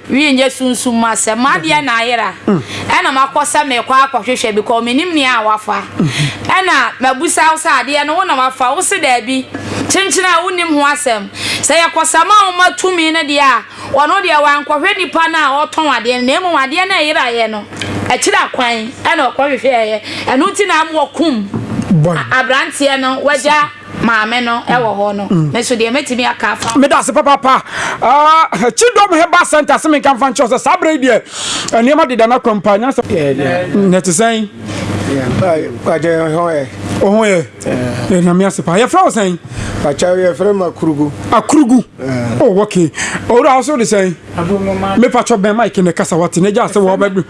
Wiɛ nyɛ sunsum mu asɛm. M'adeɛ na ayera ɛna makɔ sɛ mekɔ akɔhwehwɛ because menim nea wafa. Ɛna mabusa wo sɛ adeɛ no wo na wafa? Wo se daabi. Kyenkyene a wonim ho asɛm. Sɛ yɛkɔsama wo ma tumi no deɛ a, ɔno deɛ wankɔhwɛ nipa no a ɔretɔn adeɛ no na mmom adeɛ no a ɛyeraeɛ no akyira kwan ɛna ɔkɔhwehwɛeɛ. Ɛno nti na wɔkum aberanteɛ no wagya. Maame no wɔ hɔ no, mm. me so deɛ mɛtumi aka afa. meda ase papaapa kyidɔm ah, heba center se menka mfa nkyerɛ sɛ saa berɛ yi deɛ eh, nneɛma deda no akwan paa nyasɛ na ɛte sɛn ɔho yɛ ɛname ase paa yɛfrɛ wo sɛn akyɛw yɛfrɛ m akurugu akurugu o oh, ok owura wo so de sɛn mepatwɔ bɛn mike ne kasa wate na gyaa sɛ wɔbɛbi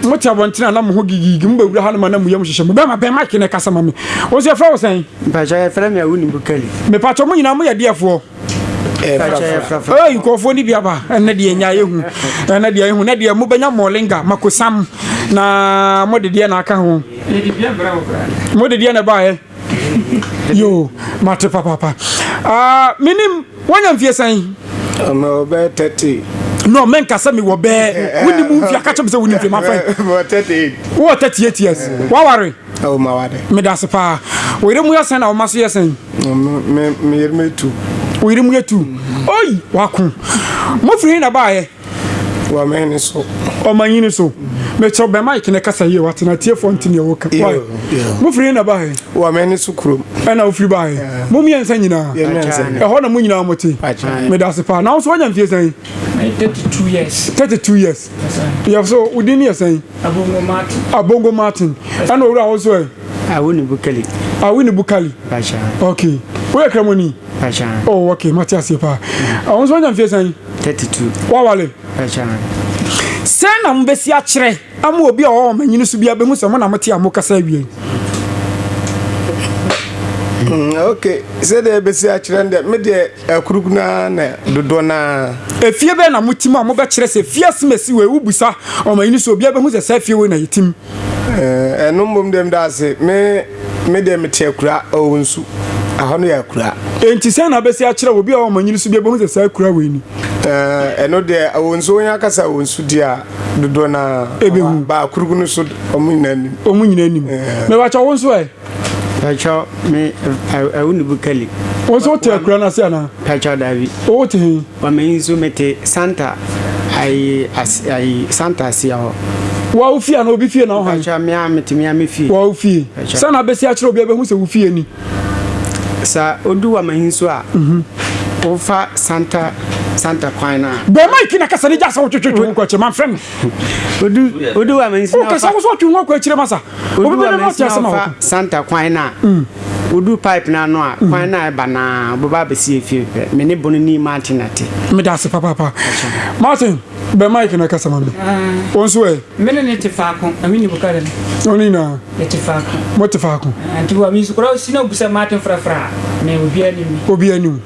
mote abɔntene a na mo ho gigigi mobɛwura ha no ma na muyam hyehyɛ mu bɛma bɛn mike ne kasa ma me wo sɛ yɛfrɛ wo sɛn mepatwɔ mo nyinaa moyɛ deɛfoɔ nkurɔfoɔ no bi aba ɛnɛ deɛ nya yɛhu ɛnɛ deɛ yɛhu na deɛ mobɛnya mɔlenga makosam na mode deɛ na aka ho mode deɛ na ɛbaeɛ yoo mate papaapa ah menim wanya mfie sɛn ɔmɛ ɔbɛɛ tɛte no menka sɛ mewɔ bɛɛ wonim mfie aka kyɛm sɛ wonim fie ma fɛn wowɔ 38 years waware oh, meda ase paa wɔyere mu yɛ sɛn na woma so yɛ sɛn meyere mu yɛ tu wɔyere mu yɛ tu oi wako mofiri he na baayɛ wɔmɛn ne so ɔmanyi ne so mɛkyɛ bɛn mike ne kasa yie wate na atiefoɔ nte neɛ woka wae mofiri na baɛ wɔmɛn ne so kurom ɛna wofiri baɛ mo mmiɛnsa nyinaa ɛhɔ na mo nyinaa mote mede ase paa na wo so wanya mfie sɛn 32 years 32 years yɛ so wo din ne yɛ sɛn abongo martin abongo martin ɛna owura wo so ɛ awini bukali awini bukali ok woyɛ kramoni Pɛkyɛn. Oh, okay, mate aseɛ paa. Wɔn nso wɔnya mfeɛ sɛn? 32. Wɔawale? Pɛkyɛn. Sɛn na mobɛsi akyerɛ ama obi a ɔwɔ wɔn anyini so biara bɛhu sɛ mo na mote a mokasa awie yi? Mm, okay, sɛdeɛ ɛbɛsi akyerɛ no deɛ, me deɛ akuruk no ara na dodoɔ no ara. Efie bɛn na motim a mobɛkyerɛ sɛ fie asem asi wei? Wobusa wɔn anyini so obiara bɛhu sɛ saa fie wei na yɛtim. Eh, ɛno mmom deɛ meda ase. Me, me deɛ mete akura, oh, nsu. Ɛhɔ no yɛ akura. Enti sɛn na abɛsi akyerɛ obi a ɔwɔ manyini so bi ɛbɛhu sɛ saa akura wei ni? Eh, ɛno deɛ ɛwɔ nsu wɔn akasa wɔn nsu di a dodoɔ na ɛbɛhu. Baakuru no so wɔn nyinaa nim. Wɔn nyinaa nim. Eh. Mɛbɛkyɛ wɔn nso ɛ. Pàtchɔ me ɛwo ne bu kali. Wo nso wote akura no ase anaa? Pàtchɔ daabi. Wote he? Wa me nso mete Santa ayi ase ayi Santa aseɛ hɔ. Wa wo fie anaa obi fie na wo han? Pàtchɔ me a mete me a me fie. Wa wo fie. Sɛ na bɛsi akyerɛ obi a bɛhu sɛ wo fie ni. Sɛ odu wa me he nso a. Wofa Santa Santa kwan no a. Bɔ mic na kasa ne gya sɛ wotwetwetwe ho kɔ akyire ma mfrɛ me. Odu odu wa me nso. Wokasa wo so wotwe ho akɔ akyire ma sa. Obi ba mɛnsin na ɔfa santa kwan no a, wodu pipe no ano a, kwan no a ɛba no ara, wobɛba abɛsi efie pɛ. Me ne Bono ni Martin Ate. Meda ase papaapa. Martin, bɛn mic no kasa ma me. Wo nso ɛ? Me ne no te faako, na me ne Buka de no. Wɔn nyinaa? Yɛte faako. Mote faako. Nti wa mi nso kora osi na obusa Martin frafra a, me obiara nim. Obiara nim.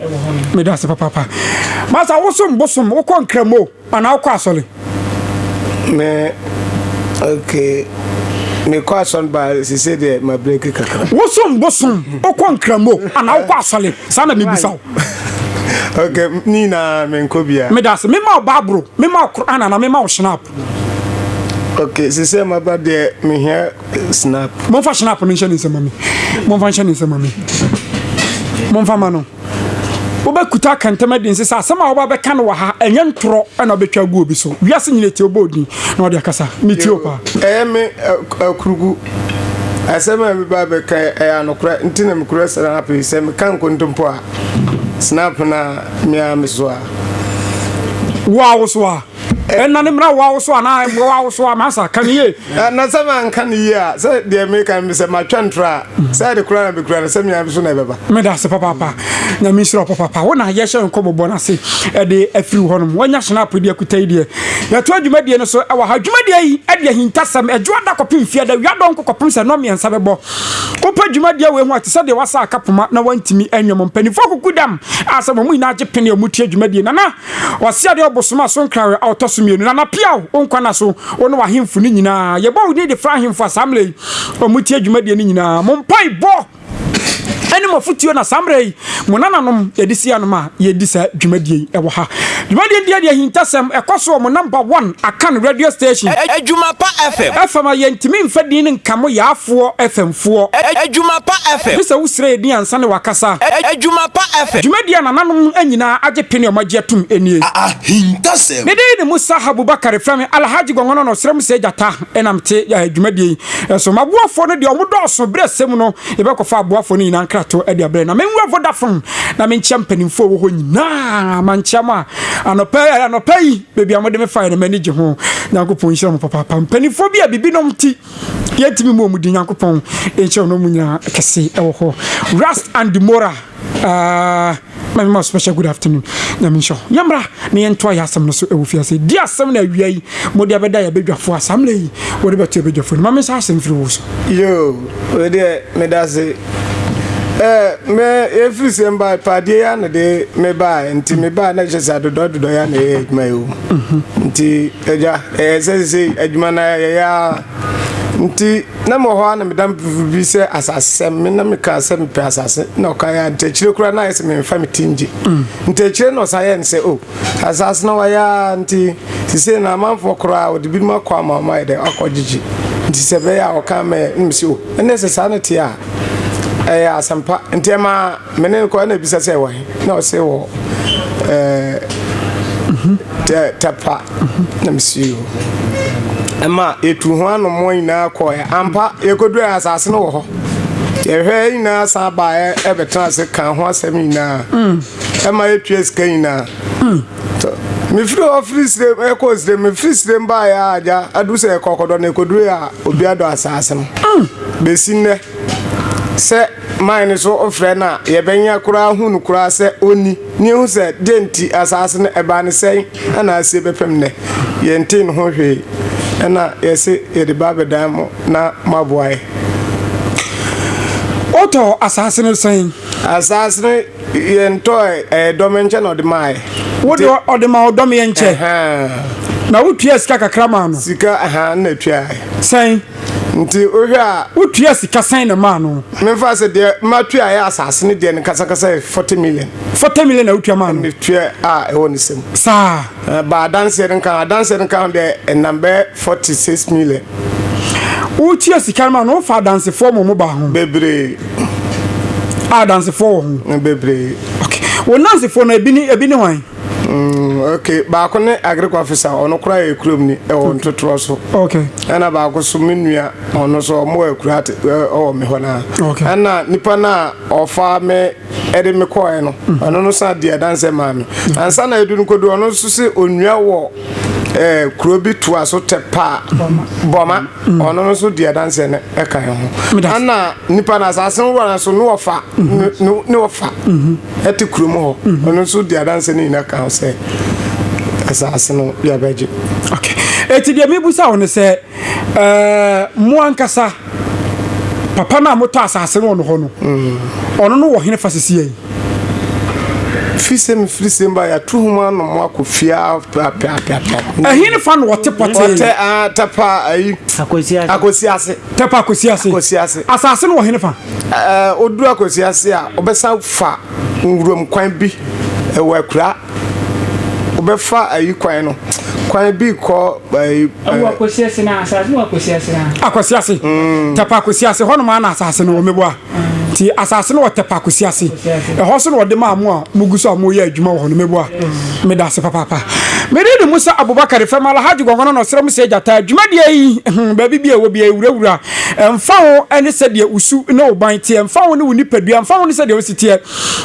Meda ase papaapa. Masa wosom bosom, wokɔ Nkramo. Ana wokɔ asɔre? Me okay me kɔ asɔre ba sise deɛ ma break kakra. Wosom bosom wokɔ nkramo ana wokɔ asɔre saa na mebisa wo. okay ne nyinaa menkɔ bia. Medase mema wo bible mema wo Quran ana mema wo shinap. Okay sise maba deɛ mehia shinap. Monfa shinap no nhyɛ ne nsam ma me monfa nhyɛ ne nsam ma me monfa ma no. wobɛkuta akɛntɛm adi nse sɛ asɛm a wɔba bɛka no wɔ ha ɛnyɛ ntorɔ ɛna wobɛtwa agu obi so wiase nyina tie wobɔ odin na wɔde akasa metie wo paa ɛyɛ me akurugu asɛm a bi ba bɛka ɛyɛ anokorɛ nti na mekura snap yi sɛ meka nkontompo a snap na mea mesoa wo a wosoa ɛna ne mmara wo awoso anaa mmoa wo awoso a masa ka ne yie na sɛ manka ne yie a sɛ deɛ meka no sɛ matwa ntorɔ a sɛ de kora na bɛkura no sɛ mea so na ɛbɛba meda ase papaapa nyame nhyira wo papaapa wo na yɛhyɛ nkɔmmɔbɔ no ase ɛde afiri hɔ nom wanya hyena apodi akuta yi deɛ yɛto adwumadie no so ɛwɔ ha adwumadie yi ɛde ahintasɛm ɛdwo ada kɔpem fie da wia dɔnko kɔpem sɛ nɔ mmiɛnsa bɛbɔ wopɛ dwumadie wei ho a te sɛ deɛ wasa akapoma na wantumi anwam mpanimfoɔ kuku dam a sɛ wɔn nyinaa gye pene a wɔtie dwumadie nana Ɔse adeɛ ɔbosom a so nkrawɛ a ɔtɔ so mmienu na na piaw wo nkwa na so wo ne w'ahemfo no nyinaa yɛbɔ wo din de fra ahemfo a saa mmerɛ yi ɔmo tie dwumadie no nyinaa mo mpae bɔ ɛne mo afotuo na saa mmerɛ yi mo nananom yɛde si anom a yɛdi saa dwumadie yi ɛwɔ ha dwumadie deɛ deɛ ahintasɛm ɛkɔ so wɔ mo number one akan radio station Adwuma pa FM. FM a yɛntumi mfa din no nka mo yaafoɔ FM Foɔ, Adwuma Pa FM. Gye sɛ wo srɛ yɛ din ansa na wakasa. Adwuma Pa FM. Dwumadi a nananom no nyinaa agye pene a ɔmo agye atum nie. Ahintasɛm. Me din ne Musa Habubakar frɛ me Alhaji Gɔngɔnɔ na ɔsrɛ mu sɛ gyata na me te dwumadie yi so maboafoɔ no deɛ ɔmo dɔɔso berɛ sɛ mu no yɛbɛkɔ fa aboafoɔ no nyinaa nkrato de abrɛ na me nwura Vodafone na me nkyia mpanimfoɔ wɔ hɔ nyinaa mankyia mo a anɔpa anɔpa yi baabi a mo de me faeɛ no m'ani gye ho Nyankopɔn nhyira mo papaapa mpanimfoɔ bi a bibinom ti Yɛntumi mmɔ wɔn din, Nyankopɔn nhyira wɔn nyina kɛse wɔ hɔ. Rust and Demora, uh, my mama special good afternoon. Nyame nhyira wo. Yɛmmra na yɛntoa yɛ asɛm no so ɛwɔ fiase. Di asɛm na awia yi mode abɛda yɛ badwafoɔ a saa mmerɛ yi wɔde bɛto yɛ badwafoɔ no. Ma mensa asɛm firi wo so. Yo, wei deɛ meda se. Eh, me yɛfiri sɛ mbae pa adeɛ yi ano de mebae nti mebae na kyerɛ sɛ adodɔ adodɔ yɛ ana ɛyɛ adwuma yi o nti agya Ɛɛ, sɛ sesei adwuma no ara yɛyɛ ara nti, na mewɔ hɔ ara na me damfo bi sɛ asasesɛm, me na mekaa sɛ mepɛ asase, na ɔka yɛ nti akyire koraa na ayɛ sɛ memfa me ti ngye. Nti akyire na ɔsan yɛɛ no sɛ, o, asase no wayɛ ara nti, sesei no amanfoɔ koraa wɔde binom akɔ ama wɔn ayɛ dɛn, akɔgyegye. Nti sɛ ɛbɛyɛ a ɔka ama yɛn, na mese, o, ɛnneɛ sɛ saa na ɛteɛ a, ɛyɛ asɛmpa. Nti ɛmaa. Me ne no kɔ na bisa sɛ wɔn na ɔse wɔ ɛɛ tɛpa na mesi o ɛma etu ho anom wɔn nyinaa kɔɛ ampa yɛkɔdu ɛ asase no wɔ hɔ yɛhwɛ nyinaa san ba ɛ ɛbɛtena ase ka ho asɛm nyinaa ɛma etua sika nyinaa mefiri hɔ firi sire ɛkɔ sire mefiri sire mba yɛ agya adu sɛ ɛkɔkɔdɔ na ɛkɔdu ɛ a obi adɔ asase no bɛsi nnɛ sɛ Mae no so frɛ no a, yɛbɛnya koraa ahu no koraa sɛ onni, na yɛahu sɛ dɛn nti asaase no ɛbaa no sɛn na asie bɛpem nnɛ. Yɛntee no ho hwee, ɛna yɛse yɛde ba abɛdan mo na moaboa yɛn. Wotɔɔ asaase no sɛn? Asaase no yɛntɔɔɛ, ɛyɛ Dɔmɛnkyɛ na ɔde maaɛ. Wo de ɔde maa wo Dɔmɛnkyɛ? Ɛhaa. Na wotuaa sika kakra maa no? Sika, ɛhaa, na ɛtuaaɛ. Sɛn? Nti wohwɛ a. Wotua sika sɛn na maa no? Memfa sɛ deɛ matua yɛ asase ne deɛ no kasakasa yɛ forty million. Forty million na wotua maa no? Metua a ɛwɔ ne sɛm. Saa. Ba adanseɛ no nka ho, adanseɛ no nka ho deɛ ɛnam bɛyɛ forty six million. Wotua sika no maa no, wofa adansefoɔ ma wɔn baa ho? Bebree. A adansefoɔ wɔ ho? Bebree. Okay. Wo nansefoɔ no ebi ne ebi ne wɔn? Mm, okay. Baako ne agric officer ɔno kora yɛ kurom ni ɛwɔ ntotorɔ so. Okay. Ɛna baako so me nua ɔno so ɔmo wɔ akura ate ɛwɔ me hɔ naa. Okay. Ɛna nipa naa ɔfa me ɛde me kɔɛ no mm. ɔno no san di ɛdansɛ maa me. Mm. Ansa na edu no kodu ɔno nso se onua wɔ ɛɛ eh, kuro bi to aso tɛ paa bɔma mm. ɔno no nso di ɛdansɛ no ɛka yɛn ho. Ɛna nipa naa asase nwura no so ne wɔfa ne wɔfa. Mm-hmm. ɛte kurom hɔ mhm. ɔno nso di adanse no nyina ka ho sɛ asase no yɛbɛgye ɛti deɛ mebusa wo no sɛ mo ankasa papa no a motɔ asase no ɔno hɔ no mhm. ɔno no wɔ hene fa sisia yi firi sɛ mefiri sɛ mba yɛato ho mu anom akɔ fiaa prapraprapra ɛhe ne fa na ɔte pɔtɛɔtɛ ah, tɛpa ayi akosi ase tɛpa akosi ase akosi ase asase no wɔ hene fa Ɔduru Akwasi ase a, ɔbɛsan fa nwuram kwan bi wɔ Akura. Ɔbɛfa ayi kwan no, kwan bi kɔ ayi. Ɛwɔ Akwasi ase na asase no wɔ Akwasi ase na. Akwasi ase, Tɛpa Akwasi ase, hɔ nom ara na asase no wɔ, meboa? Nti asase no wɔ Tɛpa Akwasi ase, ɛhɔ nso na wɔde maa mo a mogu so a moreyɛ adwuma wɔ hɔ no, meboa? Meda ase papaapa. Mede ne Musa Abubakari fam Alhaji Gɔngɔnɔ na ɔsrɛ mo sɛ Gyata, dwumadie yi, hmm, baabi biara ɛwɔ biara, ɛwurawura. Ɛmfa ho ne sɛdeɛ wo su ne wo ban teɛ, ɛmfa ho ne wo nipadua, ɛmfa ho ne sɛdeɛ wo si teɛ.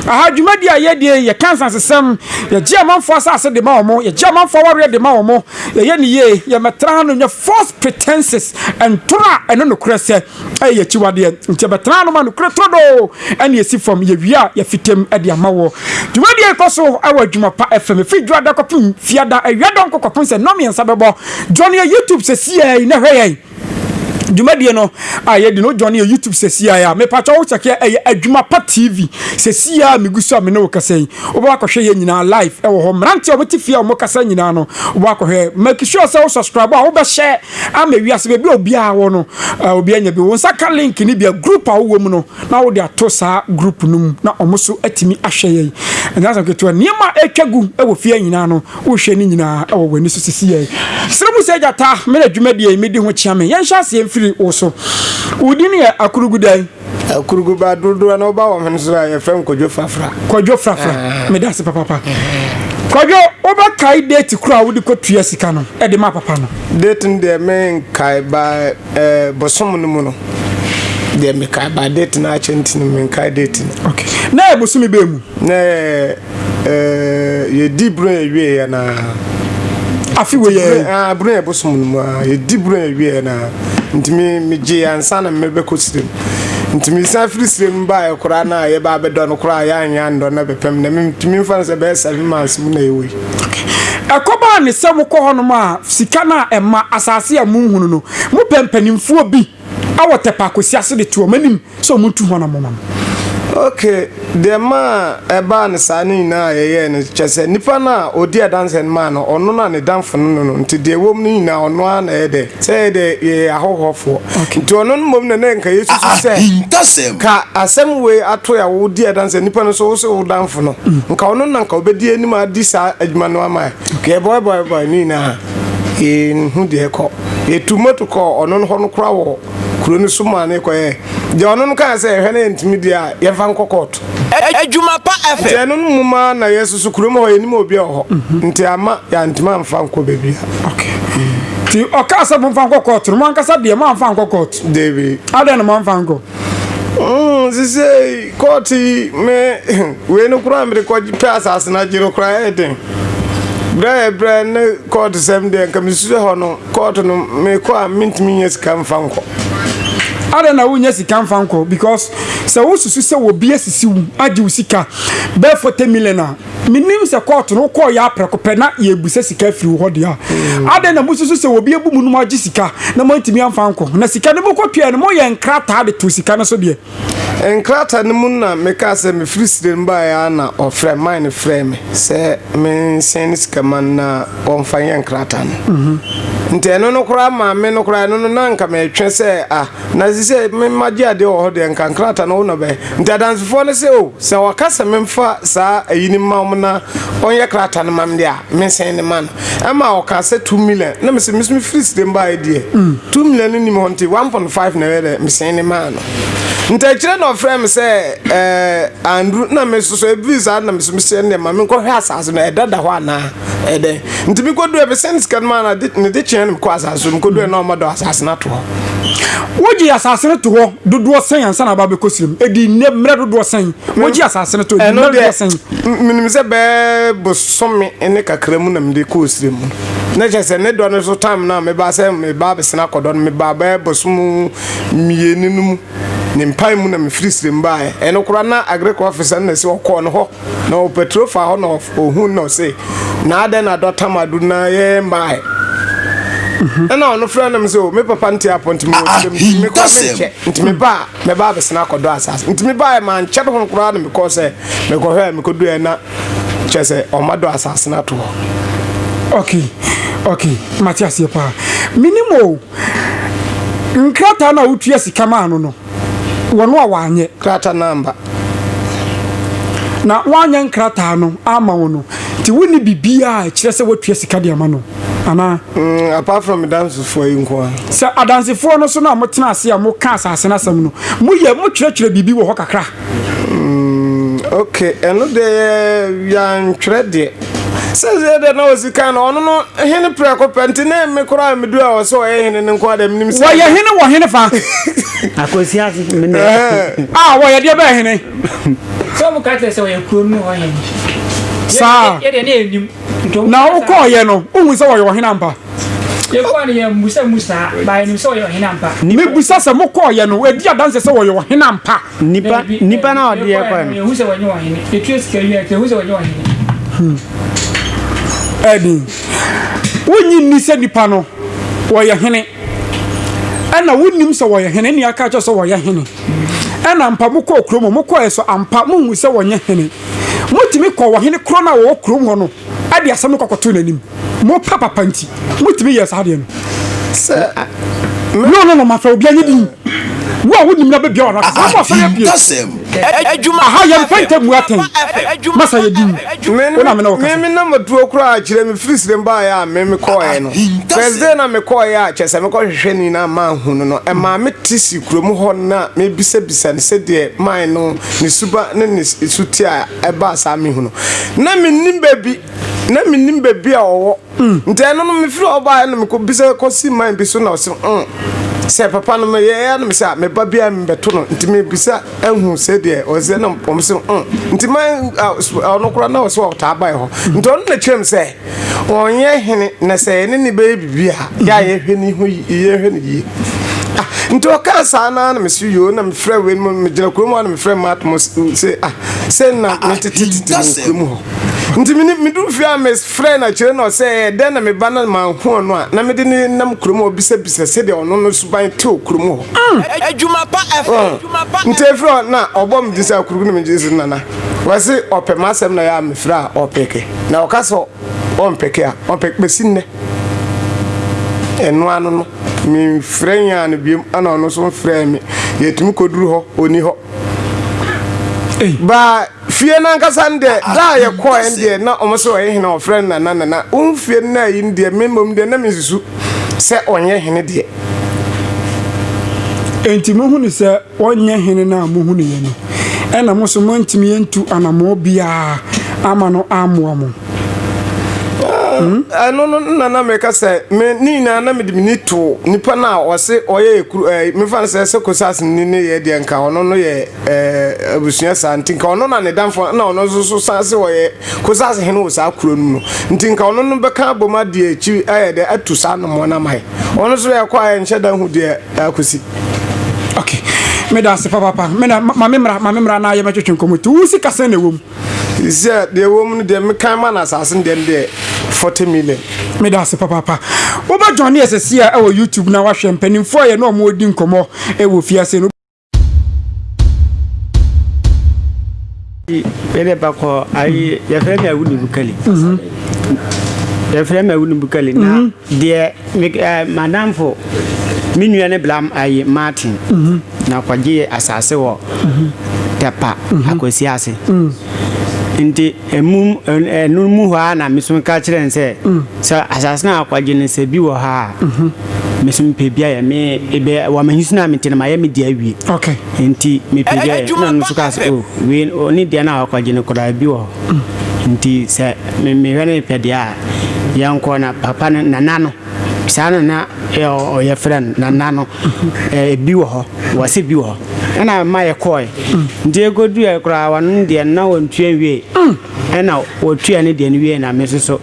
Aha dwumadie a yɛdie yi, yɛka nsansesɛm, yɛgye amanfoɔ asase de ma wɔn, yɛgye amanfoɔ awareɛ de ma wɔn, yɛyɛ ne yie, yɛmmɛtena hanom nyɛ false pretenses ntorɔ a ɛno nokorɛ sɛ ɛyɛ yɛkyiwadeɛ. Nti yɛbɛtena hanom a nokorɛ turodoo ɛne ɛsi fam, yɛwie a yɛfitam de ama woɔ. Dwumadie yi kɔ so wɔ Adwuma Pa FM, ɛfiri dwoada kɔpem fiada, awiadɔnkɔ kɔpem sɛ nnɔmmiɛnsa bɛbɔ. Join yɛn YouTube sɛsiɛi na hwɛ yɛn. Dwumadie no a yɛdi no join yɛ YouTube sɛsiaa a mepatwa wo kyɛkeɛ ɛyɛ adwuma pa TV sɛsiaa megu so a me ne wo kasa yi wobɛba akɔhwɛ yɛ nyinaa live ɛwɔ hɔ mmeranteɛ a wɔte fie a wɔn kasa nyinaa no wobɛba akɔhwɛ make sure sɛ wo subscribe a wobɛhyɛ ama wiase baabi a obiara wɔ no obiara nya bi wo nsa ka link no bia group a wowɔ mu no na wode ato saa group no mu na wɔn so atumi ahwɛ yɛn ɛnyɛ asɛm ketewa nneɛma a ɛtwa gu ɛwɔ fie nyinaa no Wohwɛ ne nyinaa wɔ w'ani so sesiyɛe. Srɛ mu sɛ, Gyata, merɛ dwumadie yi medi ho kyea me. Yɛnhyɛ aseɛ mfiri wo so. Wo din yɛ Akurugu dɛn? Akurugu ba dodoɔ na woba wɔ hene so a, yɛfrɛ me Kwadwo Frafra. Kwadwo Frafra, meda ase papaapa. Kwadwo, wobɛkae date korɔ a wode kɔtua sika no de maa papa no? Date no deɛ menkae, ba eh, bosom no mu no deɛ mekae, ba date no akyɛ nti no menkae date no. Okay. Na ɛyɛ bosome bɛn mu? Na ɛyɛ Ɛɛ yɛdi bere a ɛwieɛ yɛ na. afi wɔ yɛ. bere a ɛbosom no mu a yɛdi bere a ɛwieɛ na ntumi megye yɛ ansa na mebɛkɔ sirem ntumi san firi sirem baeɛ koraa na yɛba abɛdɔ no koraa yɛanyɛ andɔ na bɛpɛm na metumi mfa no sɛ bɛyɛ seven months mu na yɛwɔ yi. Ɛkɔbaa ne sɛ mokɔ hɔnom a sika no a ɛma asase a monhunu no mopɛ mpanimfoɔ bi wɔ Tɛpɛ Akwasiase de to wɔn anim sɛ ɔmo ntu ho anamɔn no. Ok, deɛ maa ɛbaa no saa no nyinaa a yɛyɛɛ no, kyerɛ sɛ nipa no a ɔdi adanseɛ no maa no, ɔno na ne damfo no no no, nti deɛ ɛwɔ mu no nyinaa ɔno ara na ɛyɛ dɛ, sɛ yɛ deɛ yɛyɛ ahɔhoɔfoɔ, nti ɔno no mmom na na nka yɛsusu sɛ, ka asɛm wei ato yɛ a wodi adanseɛ nipa no so, wo se wo damfo no, nka ɔno na nka ɔbɛdi anim adi saa adwuma no ama yɛn, yɛbɔebɔebɔe no nyinaa, yɛnhu deɛ ɛkɔ, yɛtuu moto kɔɔ ɔno no hɔ no koraa wɔ. kuro no so maa no kɔyɛɛ deɛ ɔno no kaa sɛ ɛhwɛ na yɛntumi deɛ a yɛmfa nkɔ kɔɔto. Adwuma pa FM. Nti ɛno no mu ma na yɛsusu kurom hɔ yɛnim obi a wɔ hɔ nti amma yɛantumi amfa nkɔ baabi a. Nti ɔkaa sɛ momfa nkɔ kɔɔto no mo ankasa deɛ moamfa nkɔ kɔɔto? Dabi. Adɛn na moamfa nkɔ? Mm, sisei kɔɔto yi me wei no koraa mede kɔ pɛ asase no agye no koraa ɛyɛ den. Berɛ a yɛbrɛ ne kɔɔto sɛm deɛ nka mesusu hɔ no Kɔɔto no mekɔ a mentumi nya sika mfa nkɔ. Adɛn na wonya sika mfa nkɔ? Because sɛ wosusu sɛ obi asisi wo agye wo sika bɛɛ forty million a, menim sɛ kɔɔto no wokɔɔ yɛ aprɛko pɛ na yɛbusa sika afiri wo hɔ deɛ a. Hmm. Adɛn na mosusu sɛ obi abu mu no moagye sika na moantumi amfa nkɔ? Na sika no mokɔtuaɛ no moyɛ nkrataa de to sika no so deɛ. Nkrataa no mu na mekaa sɛ mefiri Sirem baeɛ ara na ɔfrɛ mine frɛɛ me sɛ mensɛn ne sika ma no na wɔmfa nyɛ nkrataa no. Nti ɛno no koraa maa me no koraa ɛno no na nka metwe sɛ ah na ɛsɛ sɛ magye adeɛ wɔ hɔ deɛ nka nkrataa no wo na ɔbɛyɛ. Nti adansefoɔ no sɛ oh sɛ ɔka sɛ memfa saa ayi no mma wɔn na wɔnyɛ krataa no ma me deɛ a mensɛn no ma no. Ɛma ɔkaa sɛ two million na mesɛ meso mefiri sdem baeɛ deɛ two million no nnim hɔ nti one point five na ɛyɛ dɛ mesɛn ne maa no nti akyire na ɔfrɛ me sɛ ɛɛ Andrew na meso so ɛbiri saa na meso mesɛ ndeɛ ma menkɔhwɛ asaase no ɛda da hɔ anaa ɛdɛn nti mekɔduɛ mesɛn sika no maa no ade ne de kyeɛ no mekɔ asaase so mekɔduɛ na ɔma dɔ asaase no ato hɔ Wogye asase no to hɔ dodoɔ sɛn ansa na aba abɛkɔ srem? Ɛdi nnɛ mmerɛ dodoɔ sɛn? Wogye asase no to ɛdi mmerɛ dodoɔ sɛn? Menim sɛ bɛyɛ bosome ne kakra mu na mede kɔ ɔsrɛ mu. Na kyerɛ sɛ ne dɔ no so time no a mebaa sɛ mebaa bɛsena akɔdɔ no mebaa bɛyɛ bosome mmienu no mu. Ne mpae mu na mefiri srɛ mu baeɛ. Ɛno koraa na agric officer no na ɛsɛ ɔkɔɔ no hɔ na ɔpatro faa hɔ na ɔhuu na ɔse na adɛn na dɔ tam adu na yɛyɛ mmaeɛ. Ɛna ɔno frɛ no sɛ o me papa nte apɔ nti mewɔ srɛ mu nti me koraa menkyɛ nti mebaa mebaa bɛsena akɔdɔ asase nti mebaeɛ mankyɛ ho koraa na mekɔɔ sɛ Mekɔhwɛɛ mekoduɛɛ na kyerɛ sɛ ɔma dɔ asase no ato hɔ. Okay okay mate aseɛ paa menim oo nkrataa no a wotua sika maa no no wɔno a wanyɛ. Krata no amba. Na wanyɛ nkrataa no ama wo no nti wonni biribiaa a ɛkyerɛ sɛ woatua sika de ama no anaa? Mm apart from medansefoɔ yi nko ara. Sɛ adansefoɔ no so no a motena ase a moka asase no asɛm no moyɛ motwerɛtwerɛ biribi wɔ hɔ kakra? okay ɛno deɛ yɛantwerɛ deɛ sɛdeɛ deɛ na ɔsi kan no ɔno no hene prɛko pɛ nti ne me koraa medu a ɔsɛ ɔyɛ hene no nko adeɛ menim sɛ wɔyɛ hene wɔ hene fa akwasi ase mene a wɔyɛ deɛ bɛyɛ hene sɛ ɔmo ka kyerɛ sɛ ɔyɛ kurom no ɔyɛ saa yɛdeɛ ne ɛnim na wokɔɔyɛ no wohu sɛ wɔyɛ ɔhene ampa Yɛkɔɔ no yɛammisa mu saa, baa yɛnim sɛ ɔyɛ ɔhene ampa. Mebisa sɛ mokɔɔeɛ no wadi adanseɛ sɛ ɔyɛ ɔhene ampa? Nipa nipa no a ɔde yɛn kɔɛ no. Yɛhu sɛ wɔnyɛ ɔhene. Yɛtua sika wie a nti yɛhu sɛ wɔnyɛ ɔhene. Hmm. Ɛni. Wonyi nni sɛ nipa no wɔyɛ hene. Ɛna wonim sɛ wɔyɛ hene ne aka kyɛ sɛ wɔyɛ hene. Ɛna ampa mokɔɔ kurom mokɔɛ so ampa mohu sɛ wɔnyɛ hene. Motumi kɔ ɔhene korɔ no a wɔwɔ kurom hɔ no de asɛm no kɔkɔtoo n'anim. Mo papapa nti, motumi yɛɛ saa adeɛ no. Sɛ. No, no, no, mafa obi anyi din. Wo a wonim na bɛbia w'ano aka sɛ, Wokɔ asɔre apue. Ahintasɛm. Adwuma. Aha, yɛmfa ntam mu atɛn. Masa yɛ din. Wo na me ne wo kasa. Meme na matuo koraa, kyerɛ me firi Sirem baeɛ a meme kɔɔɛ no. Ahintasɛm. First day na mekɔɔɛ a, kyerɛ sɛ mekɔ hwehwɛ no nyinaa manhu no no, ɛmaa mete si kurom hɔ na mebisabisa no sɛdeɛ mae no. ne suba ne ne suti a ɛbaa saa mehu no na mennim baabi na mennim baabi a ɔwɔ mm. nti ɛno no mefiri hɔ baeɛ no mekɔbisa kɔsi man bi so na ɔse mm. sɛ papa no meyɛɛ no mesɛ a meba biaa mebɛto no nti mebisa ahu sɛ deɛ ɔsɛ na ɔm se mm. nti ma ɔno kora na ɔsɛ ɔtaa bae hɔ nti ɔno na kyerɛm sɛ ɔnyɛ hene na sɛ yɛne ne bɛyɛ biribi a yɛ a yɛhwɛ ne ho yɛhwɛ no yie ah, nti ɔkaa saa naa na mese yoo na mefrɛ wei no megyina kurom hɔ na mefrɛ mat mo sɛ ah sɛ na ah, ah, metetetete wɔ kurom hɔ nti meduru fie a mefrɛ no akyerɛ no sɛ eh, dɛn na meba na manho ɔno a na mede ne nam kurom hɔ bisabisa sɛdeɛ ɔno no suban te wɔ kurom hɔ mm. adwuma pa ɛfɛ mm. nti ɛfiri hɔ na ɔbɔ me din sɛ akuruku na megye sɛ nana Wɔse ɔpɛ m'asɛm na yɛ a mefrɛ a ɔpɛke na ɔka sɛ ɔmpɛke a ɔmpɛke bɛsi nnɛ. Ɛno ano no memfrɛ Yan no biom ɛna ɔno nso mfrɛɛ me. Yɛtumi kɔduru hɔ ɔnni hɔ. Baa fie no ankasa no deɛ da a yɛkɔɛ no deɛ na wɔn sɛ ɔyɛ hene a wɔfrɛ no Nana Nana. Wohu fie no na yi no deɛ me mmom deɛ na mensusu sɛ ɔnyɛ hene deɛ. Enti mohunu sɛ Ɔnyɛ Hene no a muhunuiɛ no, ɛna mo nso moantumi antu anammɔn biara amma no ammoa mo? Hmm? Ɛno no na na meka sɛ, me ne nyinaa na mede m'ani to nipa no a ɔse ɔyɛ ekuru ɛɛ mefa no sɛ sɛ kosas no ne yɛ deɛ nka ɔno no yɛ ɛɛ abusua saa nti nka ɔno na ne danfo na ɔno nso so san se ɔyɛ kosas hene wɔ saa kuro no mu no nti nka ɔno no bɛka abom adeɛ akyiri ayɛ dɛ atu saa nommoa no ama yɛ. Ɔno nso yɛ kɔ a yɛnhyɛ da hu deɛ ɛrekɔsi. Okay. Meda ase papapa. Me na ma me mmra, ma me mmra na yɛmɛtwetwe nkɔmmɔ. Tu wo sika sɛn na ɛwɔ mu? sɛ deɛ ɛwɔ mu no deɛ mekan ma no asase no deɛ no deɛ 40 million meda ase papaapa wobɛdwane ɛsɛsi a ɛwɔ youtube na wahwɛ mpanimfoɔ a yɛne ɔmo di nkɔmmɔ ɛwɔ fiase no yɛde ba kɔ ayi yɛfrɛ mi awu nubu kɛli mhm. yɛfrɛ mi awu nubu kɛli na mhm. deɛ ɛɛ madamfo me nua ne blam ayi martin mhm. na kɔgye asase wɔ tɛpa akwasi ase nti. Mmom, ɛno mu hɔ ara na me nso ka kyerɛɛ no sɛ, sɛ asase no a wɔagye no sɛ bi wɔ ha a, me nso mepɛ bi ayɛ. Me, ebe, wɔ m'ahinsu no a mete no, mayɛ me deɛ awie. Okay. Nti mepɛ bi ayɛ. Na ɔno nso kaa sɛ, o, wei, ɔne deɛ no a wɔagye no koraa, bi wɔ hɔ. Nti sɛ me, mehwɛ no mepɛ deɛ a, yɛnkɔ. Na papa no, nana no. saa na na yɛfrɛ no na na no ebi wɔ hɔ wɔsi bi wɔ hɔ ɛna ma yɛkɔɔe nti ekoduɛ koraa wɔn deɛ na wɔn tua nwie ɛna wɔtua ne deɛ no wie na me nso so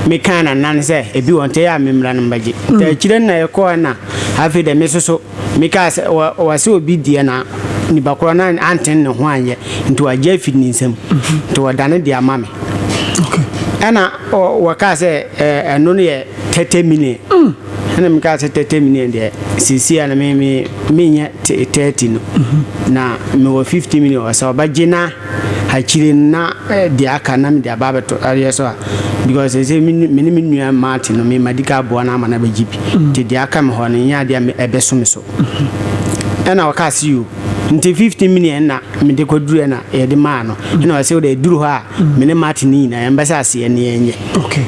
mekaa na nan sɛ ebi wɔ nti yɛ a me mmra no mbɛgye nti akyire na yɛkɔɔe na afei deɛ me nso so Mekaa sɛ, Wɔ, wɔse obi deɛ na nipa korɔ no antene ne ho anyɛ, nti wɔagye afiri ne nsam, nti wɔdane de ama me. Ɛna ɔ, wɔkaa sɛ, Ɛ, ɛno no yɛ thirty million. Ɛna mekaa sɛ, Thirty million deɛ, seesei a na me, me, menyɛ thirty no, na mewɔ fifty million, ɔsɛ ɔbɛgye na. Akyire no na deɛ aka na mede aba abɛto adeɛ so a because ɛsɛ me ne me nua Martin no mema di ka aboa no ama no abɛgye bi nti deɛ aka me hɔ no nyɛ adeɛ a ɛbɛso me so ɛna ɔka se yo nti 15 million na mede kɔduru na yɛde maa no ɛna ɔsɛ wode ɛduru hɔ a me ne Martin no nyinaa yɛmbɛsɛ aseɛ ne yɛnyɛ okay.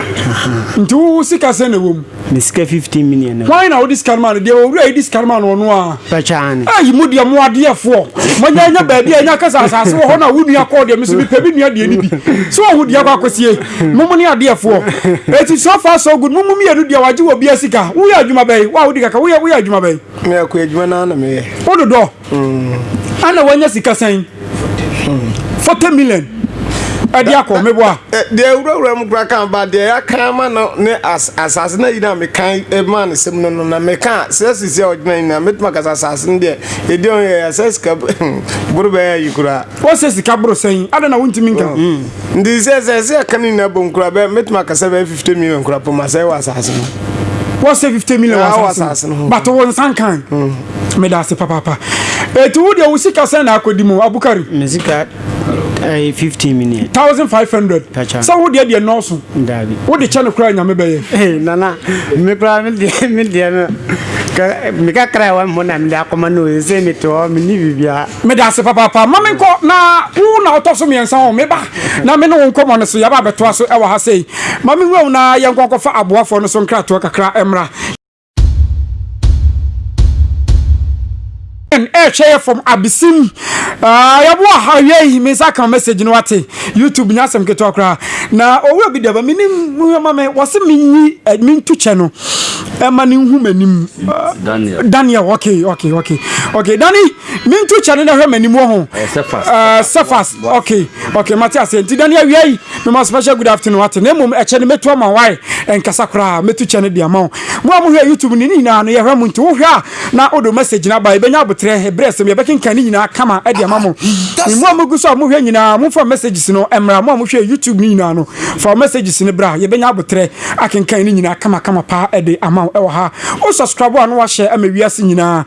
nti wo sika sɛ na ɛwɔ mu Me sika fifteen million no. Hwan na wode sika no maa no? Deɛ owura yi de sika no maa no ɔno ara. Pakyɛ aane. Ei mo deɛ mo adeɛfoɔ. Moanya anya baabi a ɛnya ka sɛ asase wɔ hɔ no a wo nua kɔɔ deɛ me nso mepɛ me nua deɛ no bi. So woahu deɛ akɔ akɔsie? Mo mo ne adeɛfoɔ. Enti so far so good mo mo mmienu deɛ wagye wɔ bia sika. Woyɛ adwuma bɛn? Wo a wodi kakra woyɛ woyɛ adwuma bɛn? Me akoa adwuma no ara na meyɛ. Wo dodɔ. Hmm. Ana wanya sika sɛn? Hmm. Forty million. ɛde akɔ meboa. deɛ wurawura mu kura kan ba deɛ yɛaka ama no ne asase na yina mekan e, ma ne sɛm no no na meka sɛ sisi a ɔgyina nyina mɛtumi akasa asase no deɛ ɛdi ɔn yɛ sɛ sika boro bɛyɛ yi koraa. wɔsɛ sika boro sɛn ada na wontumi nka. Oh, hmm. nti sɛ sɛ sɛ ɛka no nyina bom kura bɛ mɛtumi akasa bɛyɛ fifty million kura poma sɛ wɔ asase no. wɔsɛ fifty million wɔ asase no bato wɔ nsan kan. Hmm. Meda ase papaapa. Eti wo deɛ wo sika sɛn na akɔdi mu Abukari? Me sika ɛyɛ eh, fifteen million. thousand five hundred. Pacha. Sɛ wo deɛ deɛ nɔɔso. Daabi. Wo de kyɛ no koraa nyame bɛyɛ. Ee eh, nana me koraa me deɛ me deɛ no me kakra ɛwɔ mo na me de akɔma no sɛ me te hɔ me ni bibia. Me da ase papaapa ma me nkɔ na wo na ɔtɔ so mmiɛnsa hɔ me ba na me ne wo nkɔmɔ no so yaba abɛtoa so ɛwɔ ha sei ma me nwura wo na yɛnkɔ nkɔfa aboafoɔ no so nkratoɔ kakra ɛmra. ɛhwɛ yɛ fam abesim yɛbo aha yɛyi me nsa ka message no wate youtube nya asɛm ketewa koraa na owura bi dɛba menim ma me wɔse menyi eh, mentu kyɛ no ɛma ne nhu m'anim daniel okay okay okay okay dani Me nto kyɛ no na hwɛ m'anim wɔ ho. Sefas. Okay. Okay, mate aseɛ. Nti dane awia yi, mema special good afternoon ate. Na mmom ɛkyɛ no mɛtu ama wae. Ɛnkasa koraa, mɛtu kyɛ no de ama wo. Mo a mohwɛ YouTube no, ne nyinaa no yɛhwɛ mo. Nti wohwɛ a na wode wo message no aba. Yɛbɛnya aboterɛ, ɛberɛ asɛm, yɛbɛkenkan ne nyinaa kama de ama mo. Mo a mogu so a mohwɛ nyinaa, momfa messages no mmra. Mo a mohwɛ YouTube no nyinaa no, fa wo messages no bra. Yɛbɛnya aboterɛ akenkan ne nyinaa kama kama paa de ama wo wɔ ha. Wo subscribe a na wahyɛ ama wiase nyinaa.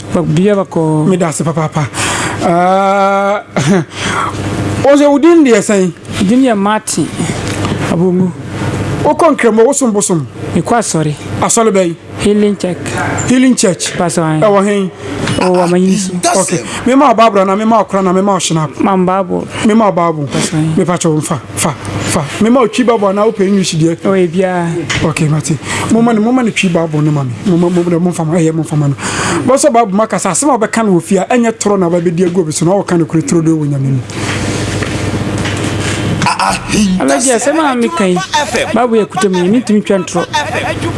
Obia bɔkɔɔ. Meda ase papaapa. Ahh ɔsɛ wo din deɛ sɛn? Me din yɛ Martin Abongu. Wo kɔ Nkramo, wo som bosom? Me kɔ asɔre. Asɔre bɛn? Healing Church. Healing Church? Pastor an. Ɛwɔ hen? Ɛwɔ Wamayin so. Ok, me ma wo Bible anaa me ma wo Koran anaa me ma wo Shinap? Ma me Bible. Me ma wo Bible. Pastor an. Me pa kyɛw nfa. Fa fa mema otwi bible anaa wopɛ English deɛ. Ɔ yɛ biara. Okay mate moma no moma no twi bible no ma me moma mo deɛ momfa ma ɛyɛ momfa ma no. Bɔsɔ bible mu akasa asɛm a wɔbɛka no wɔ fie a ɛnyɛ toro na wɔbɛdi agu obi so na wɔka no kure toro deɛ wɔ nyame mu. Alaji asɛm a meka yi bible yɛ kuta mu yɛ mentumi twa ntorɔ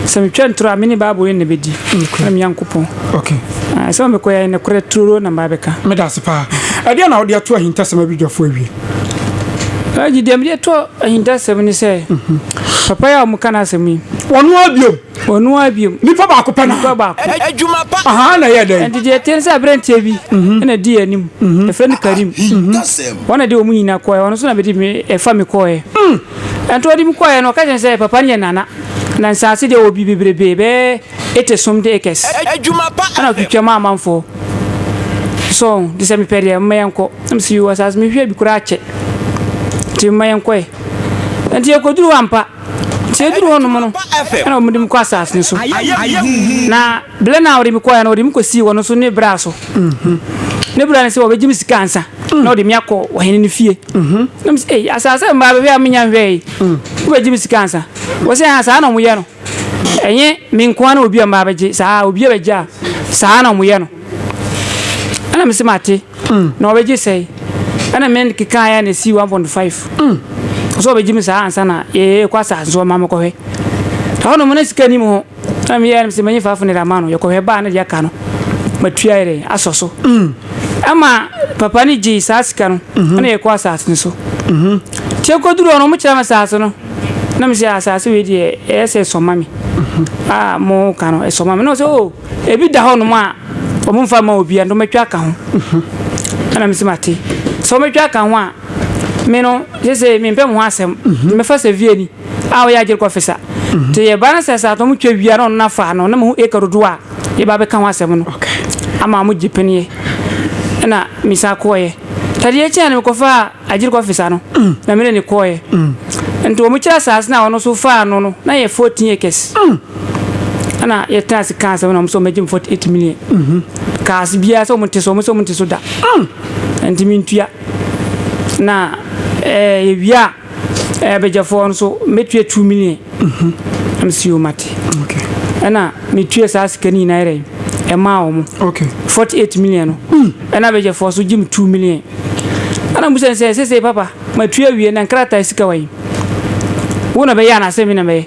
sɛ metwa ntorɔ a mene bible yɛ na bɛdi na meyankopɔn okay. Ah, sɛ mekɔyɛ nokorɛ turo na mbaabɛka meda ase paa ɛdeɛ na wode ato ahintasɛm abidwafoɔ awie Ɛgye deɛ mede to ahintasɛm ne sɛ papa yi a wɔka no asɛm yi ɔno ara biom ɔno ara biom nipa baako pɛ nipa baako adwuma pa aha na ɛyɛ dɛn ɛnti deɛ ɛte sɛ aberanteɛ bi mhm. ɛna di anim mhm. ɛfrɛ no Karim mhm. wɔn na de wɔn nyina kɔɛ ɔno nso na bɛde ɛfa me kɔɛ ɛnti ɔde me kɔɛ no ɔka kyɛn sɛ papa no yɛ nana na nsaase deɛ wɔ bi bebrebe bɛɛ Etse som dee kɛse na ɔtwetwa mu amanfoɔ so ɔho nti sɛ mepɛ deɛ moma yɛnkɔ na mese yoo asaase mehwɛ bi koraa kyɛ nti moma yɛnkɔɛ na nti yɛkɔduru hɔ ampa nti yɛduru hɔ nom no na wɔn de me kɔ asaase no so na blɛ no a wɔde me kɔɛ no wɔde me kɔsii wɔn so ne bra so ne bra no sɛ wɔbɛgye me sika ansa na wɔde me akɔ ɔhene no fie na mese ei asaase mmaa bɛhwɛ a menya nhwɛ yi wobɛgye me sika ansa wɔsɛ ha saa na wɔyɛ no Ɛnyɛ me nko ara na obi a mmaa bɛgye saa a, obi a bɛgye a, saa na wɔyɛ no. Ɛna mese mate, mm. na wɔbɛgye sɛe. Ɛna me keka ayɛ na esi 1.5. Mm. Ɔsɛ wɔbɛgye me saa ansa na yɛkɔ asase so ɔma mekɔhwɛ. Ɛhɔ nom na sika nim ho. Ɛna meyɛ no sɛ mɛnyɛ faafo ne de ama no. Yɛkɔhwɛ baa na deɛ aka no matua yɛ dɛ asɔ so. Mm. Ɛma papa no gyee saa sika no mhm. ɛna yɛkɔ asase no so. Mhm. Tiɛ kɔduru hɔ no wɔkyerɛ me asase no. Na me sɛ asase wei deɛ ɛyɛ sɛ sɔma me a mo ka no ɛsɔma me na ɔsɛ o ebi da hɔ nom a wɔn nfa ma obi a na wɔatwa aka ho ɛna me sɛ ma te sɛ wɔatwa aka ho a me no sɛ sɛ me mpɛ mo ho asɛm mhm. me fa sɛ vie ni a wɔyɛ agyere kɔ fisa mhm. te yɛ ba no sɛ sɛ atɔm twa wia na ɔno na fa no na mo ho eka dodo a yɛ ba bɛka ho asɛm no ama mo gye pɛneɛ ɛna me sa kɔɛ tadeɛ kyɛn no kɔfa a Agyiri kɔfe saa no na me ne no kɔeɛ. Nti wɔn kyerɛ asaase no a ɔno nso faa ano no na yɛ fourteen acres. Ɛna yɛtena ase kaa asɛm na wɔn sɛ wɔbɛgye me forty eight million. Kaa ase biara sɛ wɔn nte so wɔn sɛ wɔn nte so da. Nti mentua. Na ɛɛ yɛwie a ɛɛ abɛgyɛfoɔ no nso mɛtua two million. Na me si o mate. Ɛna metua saa sika no nyinaa yɛrɛ ɛmaa wɔn. Forty eight million no ɛna abɛgyɛfoɔ nso gye me two million. Ɛna mobisa no sɛ, Seesei papa, matue awie, na nkrataa sika wɔ he? Wo na bɛyɛ anaasɛ me na mɛyɛ?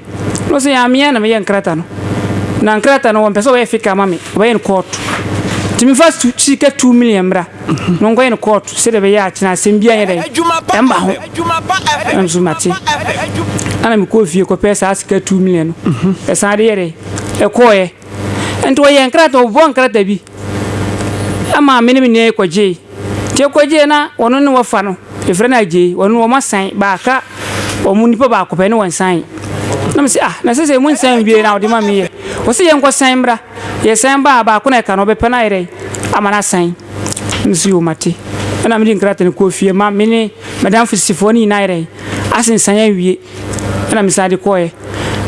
Na ɔse, Aa, meaa na meyɛ nkrata no. Na nkrata no, wɔmpɛ sɛ wɔyɛ fake ama me, wɔbɛyɛ no court. Nti memfa sika two million mmra, na wɔnkɔyɛ no court, sɛdeɛ ɛbɛyɛ a kyena asɛm biaa nyɛ dɛn, ɛmma ho. Ɛna mese, Mate. Ɛna mekɔɔ fie kɔpɛɛ saa sika two million no, ɛsan de yɛ dɛn, ɛkɔɔeɛ. Nti wɔyɛɛ nkrataa, wɔbobɔɔ nkrataa bi ma me ne me nua yi kɔgyee. Nti yɛkɔgyee na wɔn ne wɔfa no, yɛfrɛ no Agyei, wɔn no wɔasan baaka, wɔn nipa baako pɛ ne wɔn sae. Na mese, ah, na sese mo nsan nwie na wɔde ma me yɛ. Wɔse yɛnkɔsan mmra. Yɛsan baa, baako na ɛka no, ɔbɛpɛ no ayɛ dɛn ama no asan. Mese yo mate. Ɛna mede nkrataa no kɔɔ fie ma me ne m'adamfo sisifoɔ no nyinaa ayɛ dɛn asensan awie. Ɛna me san de kɔɔɛ.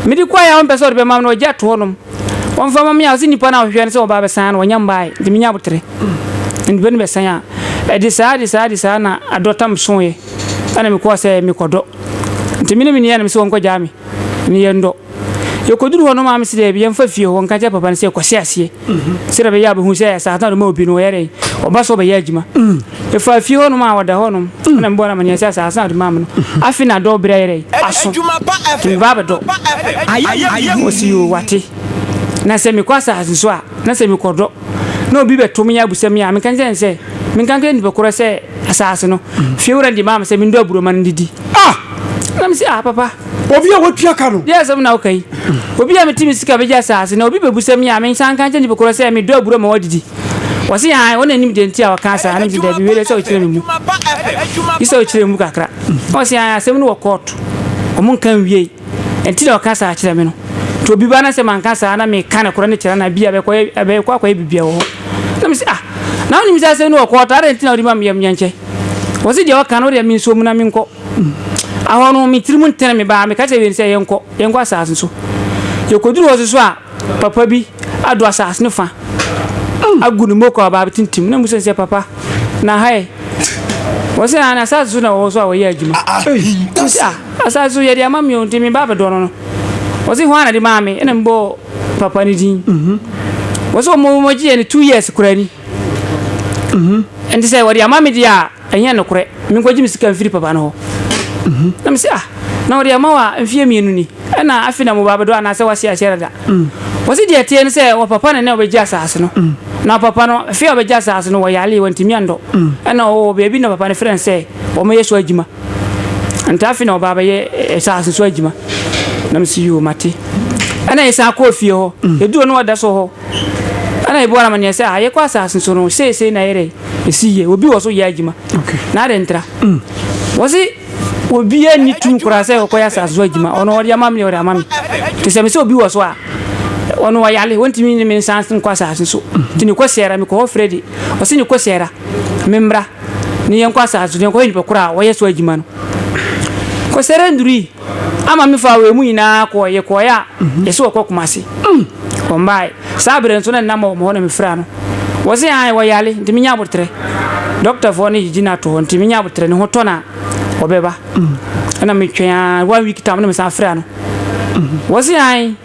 Me de kɔɔɛ a wɔn pɛ sɛ wɔde bɛ ma me no wɔn gya to hɔ nom. Wɔn fa ma me a wɔsi nipa no a wɔhwehwɛ no sɛ ɔbaa bɛ san no wɔn nya mbaaɛ nti me nya aboterɛ. Nti bɛ ne bɛ san a. Ɛde saa ɛde saa ɛde saa na adɔ tam sooɛ. Ɛna me kɔɔ sɛ me kɔ dɔ. Nti me ne me nua nom sɛ wɔn kɔ gyaa me ne yɛn dɔ. Yɛkɔduru hɔ no maame se daabi yɛmfa fie hɔ nka nkyerɛ papa no sɛ yɛkɔhyɛ aseɛ sɛdeɛ bɛyɛ a bɛhu sɛ asase no a ɔde ma obi no ɔyɛ dɛn ɔba so ɔbɛyɛ adwuma yɛfaa fie hɔ nom a ɔda hɔ nom na mebɔɔ no amaneɛ sɛ asase no a ɔde maa me no afe na adɔ berɛ ayɛ dɛn aso nti meba abɛdɔ ɔse yoo wate na sɛ mekɔ asase so a na sɛ mekɔdɔ na obi bɛto me abusa me a menka nkyerɛ no sɛ menka nkyerɛ nipa korɔ sɛ asase no fie wura no de maa me sɛ mendɔ aburoma no ndidi ah na mese ah papa Obi a watua ka no. Deɛ asɛm na woka yi? Obi a mete me sika bɛgye asaase na obi bɛbusa me a mensan nka nkyɛ nipa korɔ sɛ medɔ aburo ma wadidi? Wɔse aane, wo na nim deɛ nti a wɔkaa saa na mese daabi wei deɛ ɛsɛ wokyerɛ me mu. Gye sɛ wokyerɛ me mu kakra. Na wɔse aane, asɛm no wɔ kɔɔto, wɔn nka nwiei, ɛnti na wɔka saa kyerɛ me no. Nti obi ba na sɛ manka saa na meka no korɔ ne kyerɛ no a, bi a bɛkɔ akɔyɛ biribiara wɔ hɔ. Na mese ah, na wonim sɛ asɛm no wɔ kɔɔto, adɛn nti na wode ma me yɛ menkyɛ? Wɔse deɛ wɔka no wodeɛ mensuo mu na menkɔ. Ahɔ no, me tirim ntene me baa, meka kyerɛɛ Wayne sɛ yɛnkɔ, yɛnkɔ asase no so. Yɛkɔduruu hɔ soso a, papa bi adɔ asase no fa agu ne moko a ɔbaa bɛtintim. Na mebisa no sɛ, Papa, na ha ɛ? Ɔse, Aane, asase so na wɔwɔ so a wɔyɛ adwuma. Mese, Ah, asase so, yɛde ama me o, nti mebaa bɛdɔ no no. Ɔse, Hwan na de maa me? Ɛna mebɔɔ papa no din. Ɔse, Wɔgyeeɛ no two years koraa ni. Nti sɛ wɔde ama me deɛ a, Ɛnyɛ nokorɛ, menkɔgye me sika mfiri papa no hɔ. Na mese, Ah, na wɔde ama wo a, mfeɛ mmienu ni, ɛna afei na mmobaa bɛdɔ anaasɛ woase akyɛre dada? Wɔse deɛ ɛteɛ ne sɛ, wɔpapa no ɛna a wɔbɛgye asaase no. Na wɔpapa no, afei a wɔbɛgye asaase no, wɔyaree, wɔantumi andɔ. Ɛna wɔwɔ baabi na papa no frɛ no sɛ wɔmmɛyɛ so adwuma. Ntaa afei na wɔba abɛyɛ asaase no so adwuma. Na mese, Yoo, mate. Ɛna yɛsan kɔɔ fie hɔ. Yɛduru hɔ na wɔda so wɔ hɔ. Ɛna ebiwɔ amanneɛ sɛ a yɛkɔ asase so no seesei na yɛdɛ esi yie obi wɔ so yɛ adwuma na adɛn ntra wɔse obiara nni tum koraa sɛ ɔkɔyɛ asase so adwuma ɔno ɔde ama me deɛ ɔde ama me te sɛ me sɛ obi wɔ so a ɔno ɔyale wɔntumi nyi me nsan nkɔ asase so nti ne kɔsiara mekɔ hɔ Freddy ɔse ne kɔsiara me mmra ne yɛnkɔ asase so na yɛnkɔhwɛ nipa koro a wɔyɛ so adwuma no kɔsiara nnurui Ama me faa wɔn mu nyinaa kɔɔe. Yɛkɔɔe a, yɛse wɔkɔ Kumasi. Wɔmbae. Saa bere no nso na ne namba wɔ me hɔ na mefrɛɛ ano. Wɔse aane, wɔyare nti menya aboterɛ. Dɔktafoɔ no gyigyi no ato hɔ nti menya aboterɛ, ne ho tɔ no a, wɔbɛba. Ɛna metwɛn ara, one week tam no mesan frɛɛ ano. Wɔse aane,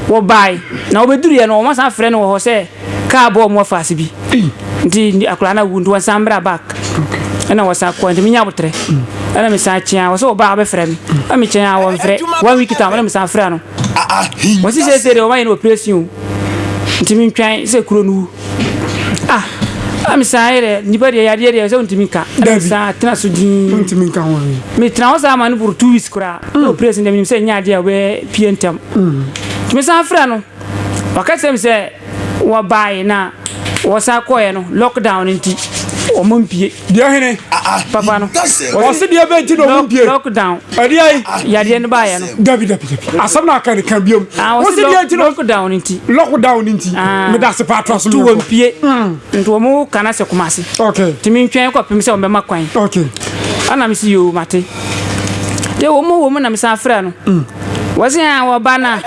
wɔbae. Na wɔbɛduruiɛ no, wɔsan frɛɛ me wɔ hɔ sɛ. Kaa bɔɔ wɔn afaase bi nti akwadaa no awu nti wɔsan braa back ɛna wɔsan kɔɔ nti menya aboterɛ ɛna mesan kyeaa wɔ sɛ wɔbaa wɔbɛfrɛ me ɛna mekyɛn a wɔmfrɛ one week time ɛna mesan frɛ no wɔsi seesei deɛ wɔayɛ no operation o nti mentwan sɛ kuro no wu ah ɛna mesan yɛ dɛ nnipa deɛ yadeɛ deɛ sɛ wontumi nka ɛna mesan tena so din metena hɔ saa ma no boro two weeks koraa na operation deɛ menim sɛ ɛnyɛ adeɛ a wɔbɛpie ntɛm nti mesan frɛ no Waka kyerɛ me sɛ wɔbaeɛ na wɔsan kɔeɛ no lockdown no nti wɔn mpie. Deɛ hene? Papa no. Wɔse deɛ bɛ nti na wɔn mpie. Lockdown. Ɛdeɛ yi? Yadeɛ no baeɛ no. Dabi dabi dabi. Asɛm na aka ne ka biom. Ah, wɔse deɛ nti na lockdown nti. Lockdown nti. Ah. Me da se pa atra so ne. Tu wɔn mpie. Mm. Nti wɔn kana se kumase. Okay. Timi ntwɛn kɔ pem sɛ wɔn bɛma kwan. Okay. Ana me si yoo mate. Deɛ wɔn wɔn na me san frɛ no. Mm. Wɔsen a wɔba na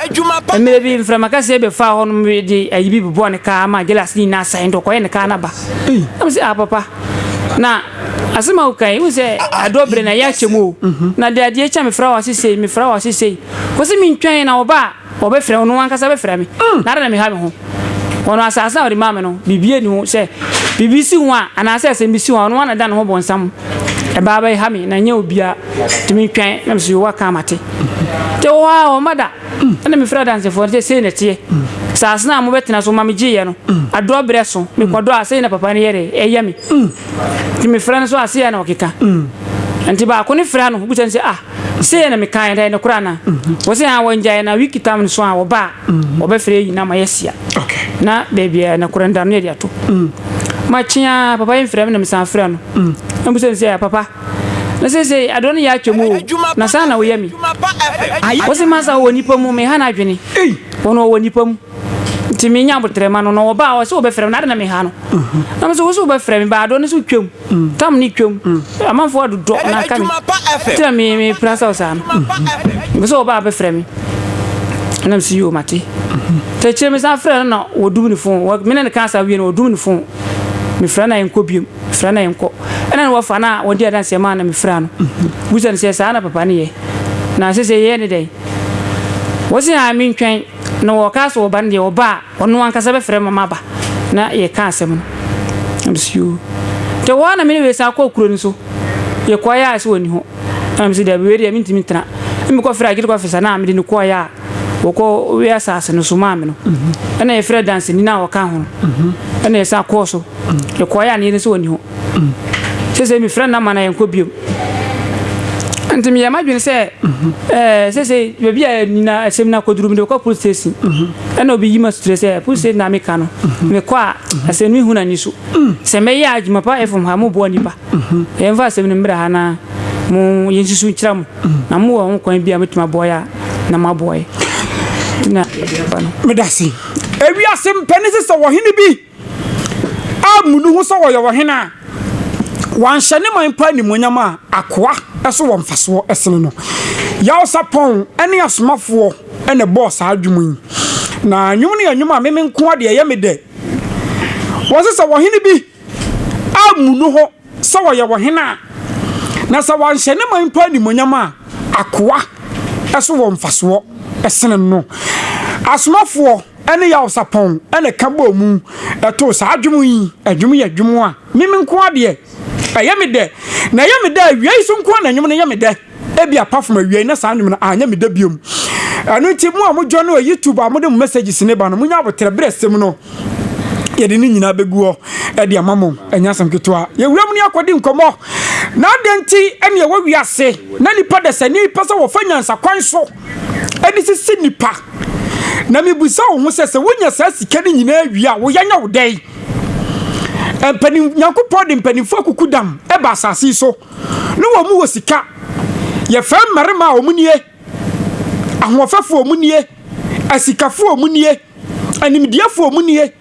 mmerɛ bi mframa kɛseɛ bɛfaa hɔ nom de ayi bi bobɔɔ ne kaa ma gyelase no nyinaa sae nti ɔkɔyɛ ne kaa no aba na me sɛ ah papa na asɛm a woka yi wo sɛ adɔ berɛ na ɛyɛ akyɛ mu o na de adeɛ kyɛ mefrɛ wɔ ase sei mefrɛ wɔ ase sei wɔ sɛ mentwɛn na wɔba a wɔbɛfrɛ ɔno ankasa bɛfrɛ me na ada na meha me ho wɔn asase a wɔde maa me no biribi ani ho sɛ biribi si ho a anaasɛ asɛm bi si ho a ɔno ana da ne ho bɔnsam ɛbaa bɛha me na nyɛ obia tumi twɛn na mesɛ yowa kan mate nti wɔ hɔ a ɔma da ɛna mefrɛ adansefoɔ no sɛ sei na ɛteɛ saase no a mobɛtena so ma megyeeɛ no adorɔ berɛ so mekɔdɔ a sei na papa no yɛre ɛyɛ me nti mefrɛ no so a sei na ɔkeka nti baako ne frɛ no bisa no sɛ ah Sei na mekaeɛ no, ɛyɛ nokorɛ anaa? Wɔse haa wɔngyaeɛ na wiki tam no so a wɔba a wɔbɛfrɛ yɛn nyinaa ma yɛahyia. Na baabi a nokorɛ no da no na yɛde ato. Makye a papa yi mfrɛ me na mesan frɛ no na mebisa no sɛ, Papa, na seesei adeɛ no yɛ atwam o, na sɛn na woyɛ me? Ɔse, Masa ɔwɔ nnipa mu, meha no adwene. Ɔno ɔwɔ nnipa mu. nti menya aboterɛ ma no na ɔbaa ɔsɛ wɔbɛfrɛ me na ade na meha no na me sɛ wo sɛ wobɛfrɛ me baa dɔ no sɛ wotwam tam ne twam amanfoɔ adodɔ na aka me nti na mepena sɛ wo saa no mepɛ sɛ wɔbaa bɛfrɛ me na me sɛ yoo mate ta akyire me san frɛ no na wɔdum ne fon me ne no ka saa wie no wɔdum ne fon mefrɛ no a ɛnkɔ biom mefrɛ no a ɛnkɔ ɛna ne wɔfa no a wɔde adanseɛ maa na mefrɛ no busa no sɛ saa na papa no yɛ na sɛ sɛ yɛyɛ ne dɛn wɔse a mentwɛn Na wɔkaa sɛ ɔba no deɛ ɔba a ɔno ankasa bɛfrɛ ma maba na yɛka asɛm no. Na mese yoo. Nti ɛhɔ ara na me ne wei san kɔɔ kuro no so. Yɛkɔeɛ a ɛsɛ ɔnni hɔ. Ɛna mese daabi wei deɛ mentumi ntena. Ɛna mekɔfrɛɛ Agyenkwa Fisa no a mede no kɔeɛ a wɔkɔ wee asase no so maa me no. Ɛna yɛfrɛɛ danseni no a ɔka ho no. Ɛna yɛsan kɔɔ so. Yɛkɔeɛ a na yɛnim sɛ ɔnni hɔ. seesei mefrɛ no na ma na yɛnkɔ biom nti meyɛ m'adwene sɛ ɛɛ seesei baabi a nyina asɛm no akɔduru mede kɔ police station ɛna obi yi ma suture sɛ police station na meka no mekɔ a asɛm no mehu no ani so sɛ mɛyɛ a adwuma pa ɛfam ha moboa nnipa yɛmfa asɛm no mmerɛ ha na mo yɛnsusu nkyerɛ mo na mowɔ ho kwan bi a mɛtumi aboa yɛ a na moaboa yɛ na meda se ewiase mpɛne sɛ sɛ wɔhene bi ammu ne ho sɛ ɔyɛ ɔhene a wanhyɛ ne man pa animuonyam a akoa so wɔ mfasoɔ sene no. Yawsapɔn ne asomafoɔ na ɛbɔɔ saa dwom yi. Na nnwom no yɛ nnwom a meme nkoa deɛ ɛyɛ me dɛ. Wɔse sɛ ɔhene bi ammu ne ho sɛ ɔyɛ wɔ hene a, na sɛ wanhyɛ ne man mpo animonyam a, akoa so wɔ mfasoɔ sene no. Asomafoɔ ne Yawosapɔn na ɛka bɔɔ mu too saa dwom yi. Dwom yɛ dwom a meme nko ara deɛ ɛyɛ me dɛ, na ɛyɛ me dɛ awiei so nko ara na nnwom no yɛ me dɛ. Ebia apart from awiei na saa nnwom no anyɛ me dɛ biom. Ɛno nti mo a mo join wɔ YouTube a mode mo messages ne ba no, monya aboterɛ berɛ asɛm no yɛde ne nyinaa bɛgu hɔ ɛde ama mo ɛnyɛ asɛm ketewa yɛwura mu ne akɔdi nkɔmmɔ na adɛn nti ɛne ɛwɔ wiase na nipa dasani pɛ sɛ wɔfa nyansa kwan so ɛde sisi nipa na mebusa wo ho sɛ sɛ wonya saa sika no nyinaa wie a woyɛ nyɛ wo dɛn mpanin nyankopɔn de mpanimfoɔ akuku dam ɛba asase so Ne wɔn wɔ sika. Yɛfrɛ mmarima a wɔn nie, ahoɔfɛfoɔ wɔn nie, asikafoɔ wɔn nie, animdeɛfoɔ wɔn nie,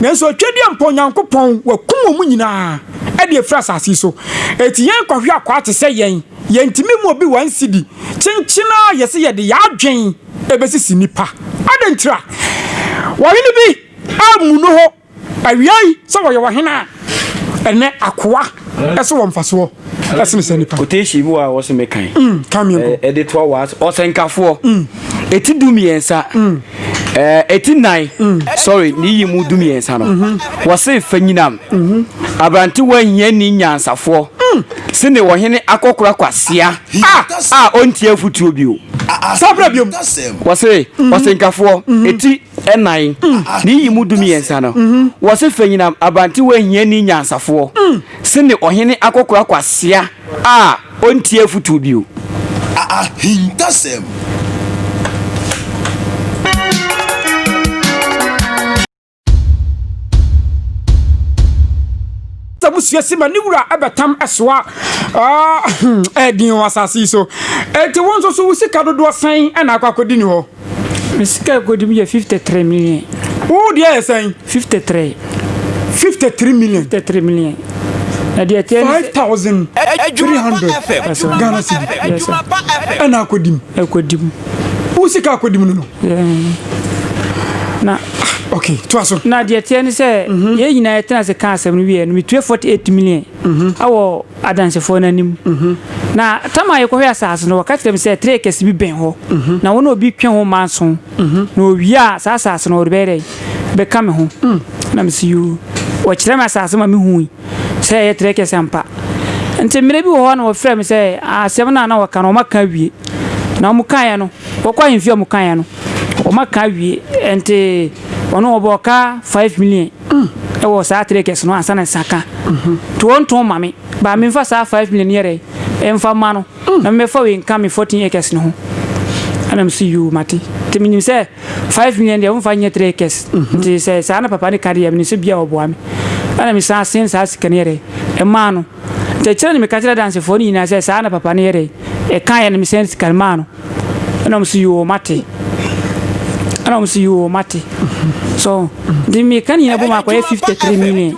nanso atwadeɛ mpo Onyankopɔn wakum wɔn nyinaa ɛde afiri asase so. Eti yɛn kɔhwɛ akwaa te sɛ yɛn, yɛntumi mu obi one cedi, kyenkyen ara yɛse yɛde yɛn adwen ɛbɛsisi nnipa. Adɛn ntira? Ɔhene bi ammu no hɔ. Awiei sɛ wɔyɛ wɔ hena a ɛnɛ akoa ɛso wɔ mfasoɔ ɛsene sɛ nipa. Quotation bi wɔ a wɔsɛ me kan. Mm, kan mi nko. Ɛde toa wɔ ase ɔsɛnkafoɔ. Mm. Eti du mmiɛnsa. Mm. Ɛɛ eti nan. Mm. Sorry ne yi mu du mmiɛnsa no. Mm-hmm. Wɔse fa nyinam. Mm-hmm. Aberantewa hia ni nyansafoɔ. Mm. Sene wɔhene akɔkora kwasia. Ah. A ɔntie afutuo bio. Saa bra biom. Wɔse mm-hmm. ɔsɛnkafoɔ. Eti. Nnan, ne nyiyimu dummiɛnsa no, wɔse Fanyinam Abantewa hiani nyansafoɔ sene ɔhene akɔkora kwasea a ɔntie afotuo bio. Ahintasɛm. Sɛ musua si ma ne wura bɛtam soa ɛɛden wɔ asase yi so. Enti wo nso so wo sika dodoɔ sɛn na akɔ akɔdi ne hɔ? Me sika ɛkɔdi mu yɛ 53 million. Wo deɛ yɛ sɛn? 53. 53 million. 53 million. Na deɛ ɛteɛ ne sɛ. 5300 Ghana cedi. Yes sir. Ɛna akɔdi mu. Ɛkɔdi mu. Wo sika akɔdi mu no no. Na. Ok, toa so. Na deɛ ɛteɛ ne sɛ. Yɛn nyinaa yɛtena ase ka asɛm no wieɛ no, metue 48 million. Awɔ. adansefoɔ no anim. Na tam a yɛkɔhwɛɛ asase no, wɔka kyerɛɛ me sɛ tire kɛse bi bɛn hɔ, na wo ne obi twe ho mma nson, na owie a, saa asase no, ɔrebɛyɛ dɛn? bɛka me ho. Na mese, Yoo. Wɔkyerɛɛ me asase ma mehui sɛ ɛyɛ tire kɛse ampa. Nti mmerɛ bi wɔ hɔ a na wɔfrɛ me sɛ asɛm no a na wɔka no wɔaka awie. Na wɔkaeɛ no, wɔkɔ ahemfie a wɔkaeɛ no, wɔaka awie. Nti ɔno ɔbɔɔ ka five million. mm, wɔ saa three acres no ansa na nsa ka tontɔn ma me ba me nfa saa five million yɛ dɛ ɛnfa ma no mm. na mɛfa wei nka me fourteen acres no ho ɛna mo si yoo mate te menim sɛ five million deɛ womfa nyɛ three acres mhm. nti sɛ saa na papa ne ka deɛ mene sɛ bia ɔboa me ɛna me san sen saa sika no yɛ dɛ ɛmaa no nti kyerɛ ne meka kyerɛ dansefoɔ no nyinaa sɛ saa na papa no yɛ dɛ ɛka yɛ no mesɛn sika no maa no Ɛna wɔn so yoo mate. Ɛna wɔn so yoo mate. So nti meka ne nyinaa bom akɔyɛ fifty three million.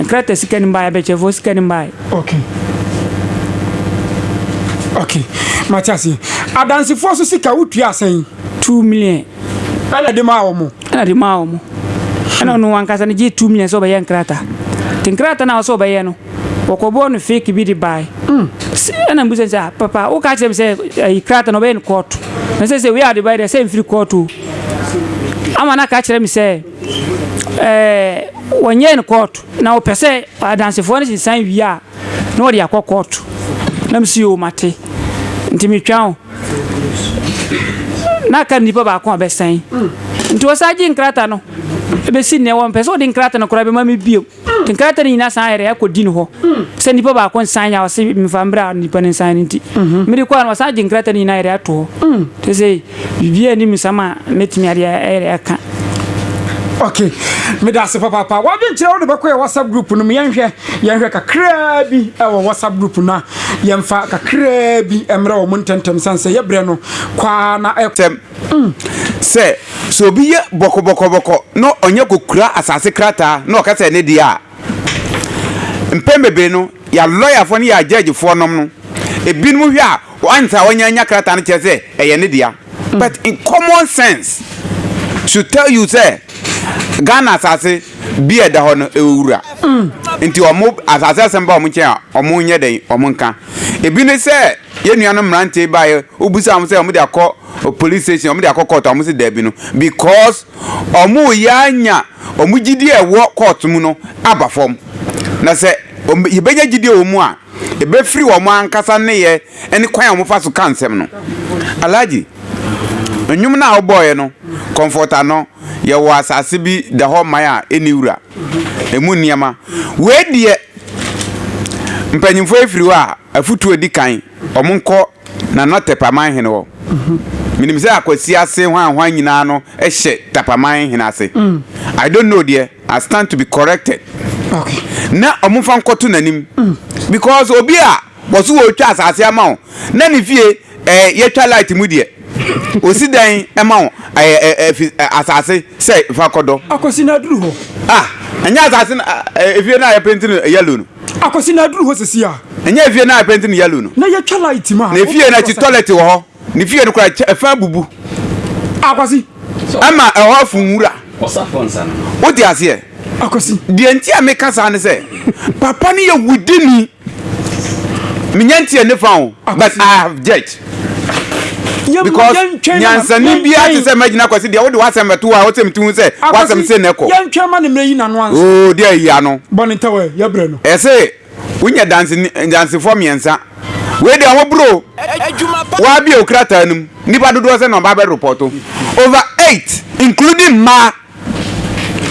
Nkrata sika ni mbaayɛ bɛkyɛfoɔ sika ni mbaayɛ. Okay. Okay. Mate aseɛ. Adansefoɔ so sika wotua asɛn. Two million. Ɛna de maa wɔn. Ɛna de maa wɔn. Ɛna ɔno ankasa no gye two million sɛ ɔbɛyɛ nkrata. Nti nkrata na ɔsɛ ɔbɛyɛ no. Wɔkɔbɔɔ no fake bi de bae. Ɛna mebisa no sɛ, ah, papa, woka kyerɛ me sɛ ayi krataa no ɔbɛyɛ no court. Na sɛ sɛ wei a ɔde bae deɛ sɛ mfiri court o. Ama no aka kyerɛ me sɛ, ɛɛ, wɔnyɛɛ no court. Na wɔpɛ sɛ adansefoɔ no sensan wie a, na wɔde akɔ court. Na mese, yoo, mate. Nti metwa o. Na aka no nipa baako a ɔbɛsan. Nti wɔsan gye nkrataa no bɛsi nnɛ. Wɔmpɛ sɛ wɔde nkrataa no koraa bɛma me bio. Nkrataa no nyinaa san yɛrɛɛ kɔ Dean hɔ sɛ nipa baako nsan yɛ a ɔse mefa mbrɛ a nipa no nsan no nti. Mede kɔɔ a na wasan agye nkrataa no nyinaa yɛrɛɛ ato hɔ. Sesei biribiara nni me nsam a mɛtumi ade yɛrɛɛ aka. Ok, meda ase papaapa. W'adwenkyerɛ wode bɛkɔ yɛ WhatsApp group no mu yɛnhwɛ yɛnhwɛ kakraa bi wɔ WhatsApp group no a yɛmfa kakraa bi mmerɛ wɔn ntɛntɛm sane sɛ yɛ berɛ no kɔ ara na ɛkɔ. Sɛ sɛ obi yɛ bɔkɔbɔkɔbɔkɔ na ɔnya kɔkura asase krataa na ɔka sɛ ɛne deɛ a, mpɛn bebree no, yɛn alɔyafoɔ ne yɛn agyɛɛgyefoɔ nom no, ebinom hwɛ a, once a ɔnya nya krataa no kyerɛ sɛ ɛyɛ ne dea. But in common sense should tell you sɛ Ghana asase bi a ɛda hɔ no, ɛwɔ wura. Nti wɔn asase asɛm ba wɔn nkyɛn a, wɔnyɛ dɛn, wɔnka. Ebi ne sɛ. Yɛn nuanom mmerante yi baeɛ, wobisaa wɔn sɛ wɔn de akɔ police station, wɔn de akɔ court a wɔn sɛ daabi no, because wɔn reyɛ anya wɔn gyidie a ɛwɔ court mu no aba fam. Na sɛ wɔn yɛbɛnya gyidie wɔ wɔn mu a, ɛbɛfiri wɔn ankasa nneyɛɛ ɛne kwan a wɔn fa so ka nsɛm no. Alhaji, nnwom no a wobɔeɛ no, comforter no, yɛwɔ asase bi da hɔ man a ɛnni wura, ɛmu nneɛma. Wei deɛ, mpanyinfoɔ yi firi hɔ a. Afotu a edi kan, Wɔnkɔ Nana Tapaman hene hɔ. Minim sɛ Akwasi ase hwanhwan nyinaa no hyɛ Tapaman hene ase. I don't know deɛ, I stand to be corrected. Na wɔmfa nkɔto n'anim because obi a wɔse ɔretwa asase ama wo na ne fie ɛɛ yɛtwa light mu deɛ, ɔsi dan ma wo ɛɛ ɛɛ ɛfi asase sɛ fa kɔdɔ. Akwasi na aduru hɔ. Ah, ɛnyɛ asase na ɛɛ efie no a yɛpenti no yellow no. Akwasi na aduru hɔ sisi a. Ɛnyɛ efie no a yɛpenti no yellow no. Na yɛtwa light ma. Na efie no akyi toilet wɔ hɔ. Ne fie no koraa ɛfã abubu. Akwasi. Ɛma ɛhɔ afu nwura. Wote aseɛ? Akwasi. Deɛ nti a meka saa ne sɛ papa no yɛ wudini. Menya nteɛ ne fa o but I have judged. because nyansani bi ate sɛ magyina kwasi deɛ wode w'asɛm bɛto a wosɛ metu ho sɛ w'asɛm se ne kɔ oo deɛ ayi ano ɛse wonya dansefoɔ mmiɛnsa wei deɛ ho bro woabie wo krataa no mu nnipa dodoɔ sɛ na ɔba bɛrepɔto over eight including mmaa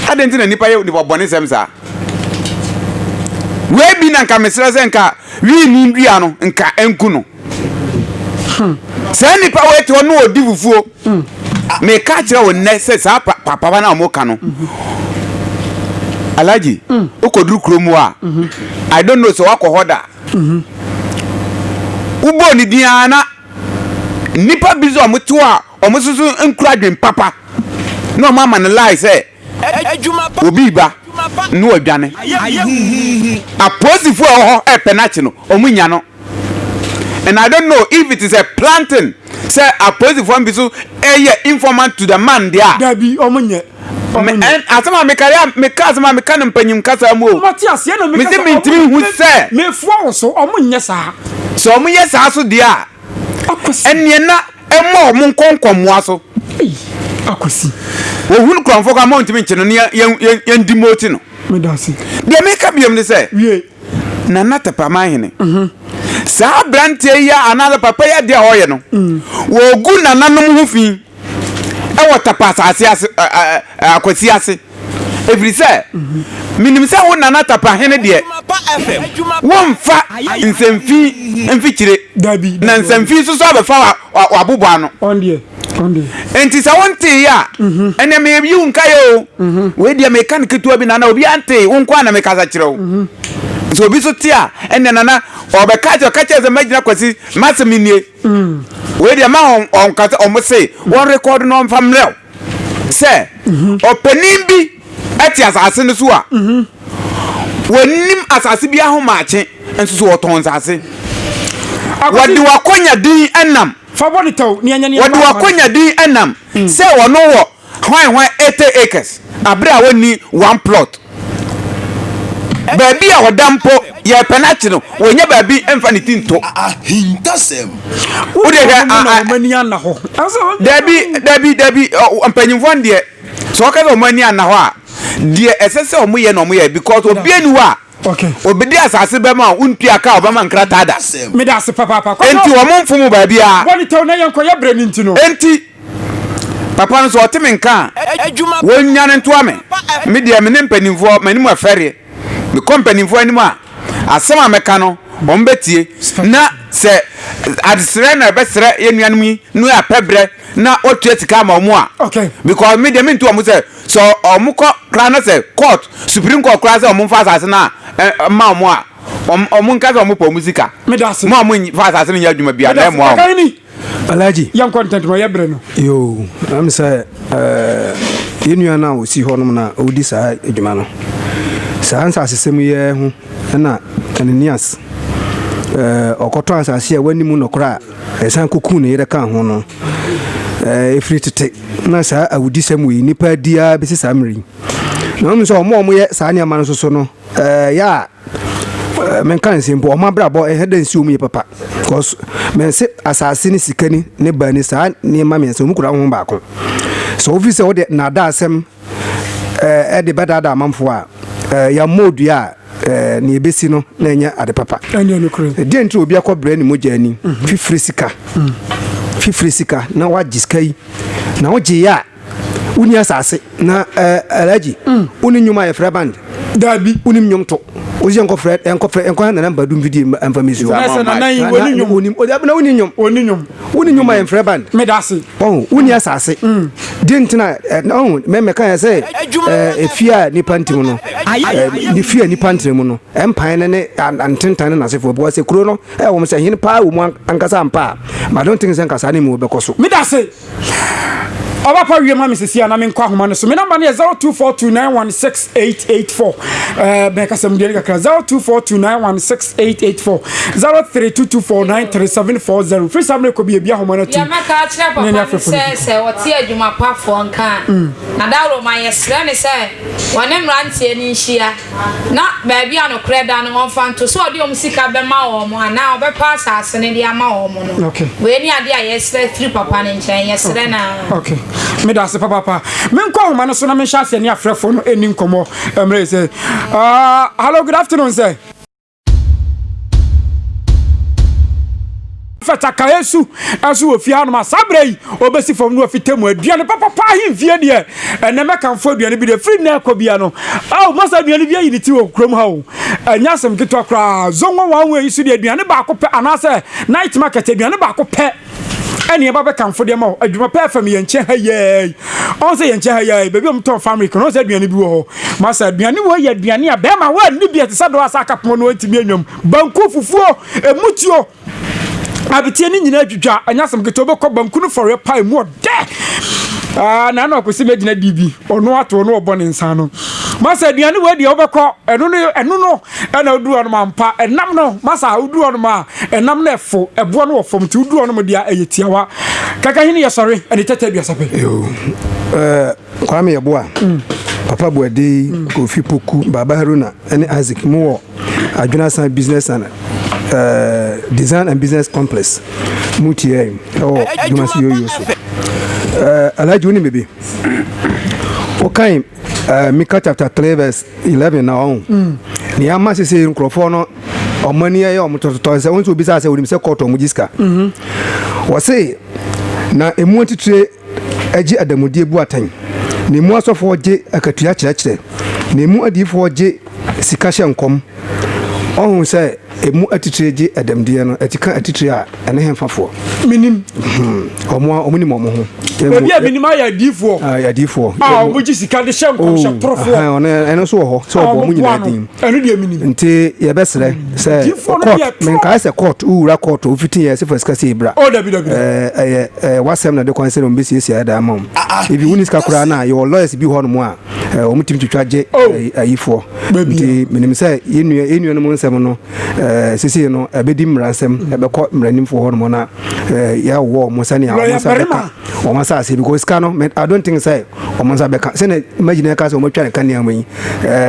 Adɛn nti na nnipa yɛ nnipabɔnesɛm saa? Wei bi na nka mesrɛ sɛ nka wiini dua no nka ɛnku no. Saa nnipa wei te hɔ na ɔdi fufuo. Meka kyerɛ wo nnɛ sɛ saa papa no a wɔka no, Alhaji, wokɔduru kurom hɔ a, I don't know sɛ woakɔ hɔ da. Wobɔɔ ne din ara na nnipa bi nso a wɔte hɔ a Wɔn nso so nkura adwene papa na wɔn ama no lie sɛ obi reba na wadwane. Apolisifo a ɛwɔ hɔ repɛ no akye no, wɔn nnya no. And I don't know if it is a planting sɛ apolisifo no bi so yɛ informant to the man deɛ a. Dabi, wɔn nyɛ. Wɔn nyɛ. Asɛm a meka yɛ meka asɛm a meka no mpanyim kasa mu o. Wɔn te aseɛ na meka sɛ wɔn nyɛ. Mesi mintimi hu sɛ. Mefua wo so, wɔn nyɛ saa. Sɛ wɔn yɛ saa so deɛ a, ɛneɛ na. ɛmmɔ wɔn nkɔ nkɔmmoa so akwasi wɔhunu kurɔmfoɔ ka ma ɔntumi nkye no ne yɛndi moti no deɛ meka biom ne sɛ nana tapama hene mhm. saa aberanteɛ yi anaasɛ papa yi adeɛ a ɔyɛ no mm. wɔgu nananom ho fi ɛwɔ tapa asase ase akwasi ase ɛfiri sɛ menim sɛ wo nana Tapahene deɛ, womfa nsɛmfi mfikyire, na nsɛmfi nso so abɛfa w'abobɔ ano. Enti sɛ wonteeɛ a, ɛnneɛ meyi wo nkaeɛ o. Wei deɛ meka no ketewa bi, nana, obiara ntee, wo nko ara na mekasa kyerɛ wo. Sɛ obi nso te a, ɛnneɛ nana, ɔbɛka sɛ, ɔka kyerɛ sɛ mɛgyina Kwasi, m'asɛm nie. Wei deɛ ma wɔnkasa, wɔn se wɔnrekɔɔdo na wɔmfa mmrɛ wo. sɛ ɔpanin bi te asase no so a wɔnnim asase biara ho maakye nso so wɔtɔn nsase wɔde wakɔnya din nam wɔde wakɔnya din nam sɛ wɔn wɔ hwan hwan eighty acres abere a wɔnni one plot. Baabi a ɔda mpo, yɛrepɛ no ate no, wɔnnya baabi mfa ne ti nto. Ahintasɛm. Wode hwɛ a. Wɔn ani anna hɔ. Dabi, dabi, dabi, mpanyinfoɔ no deɛ, sɛ wɔka sɛ wɔn ani anna hɔ a, deɛ ɛsɛ sɛ wɔyɛ na wɔyɛ because obi ani hɔ a. Okay. Obedi asase bɛma a wontua ka ɔbɛma nkrataa da. Meda ase papaapa. Enti wɔn mfom baabiara. Wɔn tɛw na yɛn kɔ yɛ brɛ ne nti no. Enti. Papa nso ɔte me nka a, wɔnnwane ntoa me. Me deɛ, me ne mpanimfoɔ, m'anim afɛreɛ. Mekɔ mpanimfoɔ anim a, asɛm a mɛka no, wɔbɛtie. Na sɛ adesrɛ na yɛbɛsrɛ yɛn nuanom yi na wɔyɛ apɛ berɛ na wɔtua sika ama wɔn a, because me deɛ mentu wɔn sɛ, sɛ wɔkɔ koraa na sɛ court, Supreme Court koraa sɛ wɔmfa asase no mma wɔn a, wɔnka sɛ wɔpɛ wɔn sika. Mo a monfa asase no nyɛ adwuma biara na ɛmmoa wɔn. Alhaji. Yɛn kɔ ntɛntɛm ɔyɛ bere no. Yoo, ɛm sɛ ɛɛ yɛn nua no a ɔsi hɔ nom na ɔdi saa adwuma no. Saa nsasesɛm yi ara ho na Ananias ɛɛ ɔkɔtɔ asase a wɔanni mu nɔkorɛ a ɛsan kɔkuu ne yere kaa ho no. Ɛɛ ɛfiri tete na saa awudisɛm wei nnipa adi ara bɛsi saa mmerɛ yi. Na wɔn sɛ wɔn a wɔyɛ saa nneɛma no nso so no ɛɛ yɛ a Ɛɛ, menka nse mpo, wɔn abrabɔ ɛyɛ dɛ nsi wɔn yɛ papa. Because mɛnse asase ne sika ni ne baa ni saa nneɛma mmiɛnsa wɔn kura ho baako. Sɛ wofi sɛ wode naadaa asɛm ɛɛ ɛde bɛdaadaa amanfoɔ a, ɛɛ yɛmmɔ odua a ɛɛ nea ebesi no na ɛnyɛ ade papa. Ɛnyɛ no kure. Deɛ nti obi akɔ brɛ ne mogya ani, fifiri sika, fifiri sika na wagye sika yi na wogye yɛ a. Woni asase na ɛɛ eh, Alhaji. Mm. Woni nnwom a yɛfrɛ band. Dabi. Wonim nnwom to. Wosi yɛn kɔfrɛ yɛn kɔfrɛ yɛn kɔhɛ nana mba dum video mfa mi su. Na sɛ nana yi woni nnwom. Wonim o dabi na woni nnwom. Woni nnwom. Woni nnwom a yɛfrɛ band. Me da ase. Ɔn woni mm. asase. Mm. Di ntina eh, ɔn mɛ mɛ kan yɛ sɛ ɛɛ eh, efi a nipa ntim no. Ne fi a nipa ntim mu no. Ɛmpan ne ne antentan ne n'asefo bɔ sɛ kuro no ɛwɔ mo sɛ hene paa wɔ mu ankasa mpa. But I don't think sɛ nkasa ne mu bɛkɔ so. Me da ase. ɔbɛpa wie ma me sisi a na menkɔ ahoma no so me namba no yɛ 0242916884 ɛɛ bɛn kasa mu deɛ kakra 0242916884 0322493740 firi saa mmerɛ kɔ bi ebi ahoma no atum yɛmɛka akyerɛ papa no sɛ sɛ ɔte adwumapafoɔ nka a mm. na daworo ma yɛsrɛ ne sɛ wɔne mmeranteɛ no nhyia Na baabi a nokorɛ da no, ɔmfa nto sɛ ɔde wɔn sika bɛma wɔn anaa ɔbɛpa asase no de ama wɔn no. Okay. Wei ne adeɛ a yɛsrɛ firi papa no nkyɛn, yɛsrɛ no ara. Okay. Meda ase papaapa. Menkɔ ahoma no so na menhyɛ aseɛ ne afrɛfoɔ no ɛni nkɔmmɔ mmerɛ sɛ. Uh, hello, good afternoon, sir. fɛtakaeɛ su ɛso wɔ fie hanom a saa berɛ yi ɔbɛsi fam no wafita mu aduane papapa ahemfie deɛ ɛnɛ mɛkamfo aduane bi deɛ firi nnɛ ɛkɔ bia no ao masa aduane bi ayi ne ti wɔ kurom ha o ɛnyɛ asɛm ketewa koraa zongo wɔn wɔ yi so deɛ aduane baako pɛ anaasɛ night market aduane baako pɛ Ɛne ɛba bɛkamfo de ama wo. Adwuma pɛɛ fam yɛn nkyɛn ha yi ara yi. Ɔn sɛ yɛn nkyɛn ha yi ara yi, baabi a wɔtɔn famric no, ɔn sɛ aduane bi wɔ hɔ. Masa, aduane wei yɛ aduane a bɛɛma wɔnni bi, ɛte sɛ dɔɔ a sɛ aka pono no a ɛntumi ɛnwam. Banku, fufuo, ɛmutuo, abeteɛ no nyinaa adwidwa. Ɛnyɛ asɛm ketewa, wobɛkɔ banku no fɔreɛ paa, ɛmu ɔdɛ. Ah, na na ɔpɛ sɛ mɛgyina di bi, ɔno ato ɔno ɔbɔ ne nsa ano. Masa, aduane wei deɛ wobɛkɔ, ɛno no, ɛno no, ɛna wodu hɔ nom ampa ɛnam no masa a wodu hɔ nom a ɛnam no ɛfo ɛboɔ no wɔ fam nti wodu hɔ nom deɛ ɛyɛ tiawa kaka hene yɛ sɔre ɛne tɛtɛ aduasa pɛ kwame yɛ boa mm. papa boade mm. kofi poku baba haruna ɛne isaac mu wɔ adwenasan business and uh, design and business complex mu tiɛ ɛwɔ dwumasi yoyo so uh, alhaji wo ne bebe wokan Uh, Mika chapter three verse eleven na ɔn. Mm. Ni ama sese nkurɔfoɔ no ɔmo ani ɛyɛ ɔmo tɔtɔtɔ sɛ wɔn nso obi sɛ asɛ onim sɛ kɔɔtɔ ɔmo gyi sika. Mhm. Wɔse na emu atitire ɛgye adamudeɛ bu atɛn. Na emu asɔfoɔ gye akatua kyerɛkyerɛ. Na emu adiifoɔ gye sika hyɛ nkɔm. Ɔho sɛ Emu atitire gye dɛmdiɛ no ɛte ka atitire a ɛne henfa foɔ? Menim. Wɔn a wɔnim wɔn ho. Ebi a menim ayɛ adiyifoɔ. Ayɛ adiyifoɔ. A wɔgye sika de hyɛ nkɔmhyɛ torofoɔ. Oh, aha, ɔno ɛno nso wɔ hɔ sɛ wɔbɔ wɔn nyinaa din. Ɛno deɛ menim. Nti yɛbɛsrɛ sɛ court menkae sɛ court wowura court wofiti yɛ sɛ fa sika sei bra. Oh, dabi dabi. Ɛyɛ ɛyɛ wasɛm na de kwan sɛ na wɔbɛsiesie ayɛ daa ma wɔn. Ebi wonni sika koraa na yɛwɔ lawyers bi hɔ nom a. wɔn tumi twitwa gye oh. ayifoɔ nti menim sɛ yɛnnua no mu nsɛm no sisi no ɛbɛdi mmara nsɛm ɛbɛkɔ mmaranimfoɔ hɔ nom na yɛwɔ wɔn sɛnea wɔn nsa bɛka wɔn asase because sika no i don't think sɛ wɔn nsa bɛka sɛnea imagine ɛka sɛ wɔn atwa ne kanea mu yi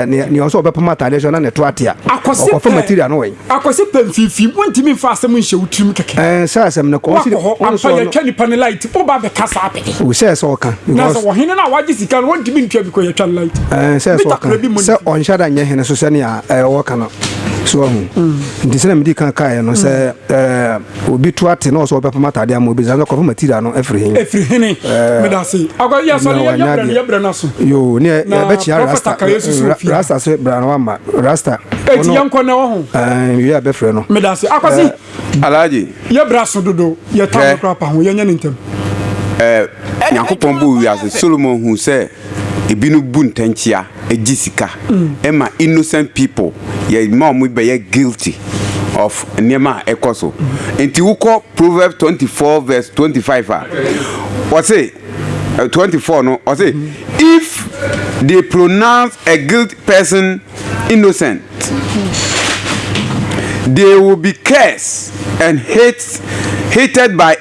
nea ɔsɛ ɔbɛpam ataadeɛ so na ne to atea ɔkɔfa material no wɔ yi Akwasi pɛ mfimfini wontumi mfa asɛm nhyɛ wo tirim kɛkɛ. Ɛɛ sɛ asɛm no kɔ ɔsi wakɔ hɔ ampa yɛtwa nipa ne light wo ba bɛka saa pɛpɛ. O sɛ sɛ ɔka. Na sɛ ɔhene no a wagye sika no wontumi ntua bi kɔ yɛtwa no light. Ɛɛ sɛ sɛ ɔka sɛ ɔnhyɛ da nyɛ hene so sɛnea ɛɛ wɔka no so ahu. Nti sɛ na medi kan kaeɛ no sɛ ɛɛ. Obi to ate na ɔsɛ ɔbɛpam atade ama obi, sɛ kɔfa material no firi he? Ɛfiri hene. Eh, Meda se. Akɔ yɛ sɔre yɛ brɛ no yɛ brɛ no so. Yo, ne ɛbɛkyea rasta. Rasta se bra na wama. Rasta. Eti yɛ nkɔ na ɛwɔ ho. Eh, wie a bɛfrɛ no. Meda se. Akɔ se. Eh, Alhaji. Yɛ bra so dodo. Yɛ tam kora pa ho. Yɛ nyɛ ne ntem. Eh, Nyankopɔn bo wiase. Solomon hu sɛ ebi no bu ntɛnkyea. gye sika ma innocent people yɛ ma wɔn bɛyɛ guilty of nneɛma a ɛkɔ so nti wokɔ proverbs twenty four verse twenty five a wɔse eh, twenty four no wɔse if they pronounce a guilty person innocent they will be cursed and hate hated by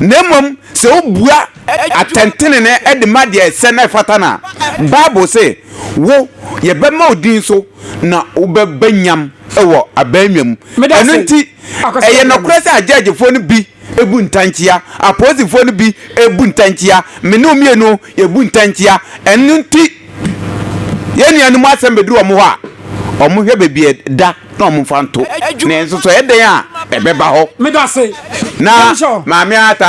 Na mmom sɛ wobua atɛntenenee de ma deɛ ɛsɛ na ɛfata no a, Bible se, Wo, yɛbɛma wo din so na wobɛba nyam wɔ aban nwa mu. Ɛno nti, ɛyɛ nokorɛ sɛ agyɛɛgyefoɔ no bi bu ntɛnkyea, apolisifoɔ no bi bu ntɛnkyea, me ne wo mmienu Yɛbu ntɛnkyea. Ɛno nti yɛn nuanom asɛm bɛduru wɔn hɔ a, wɔhwɛ baabi a ɛda na wɔmfa nto. Nanso sɛ ɛyɛ dɛn a, ɛbɛba hɔ. Ná Maame Ata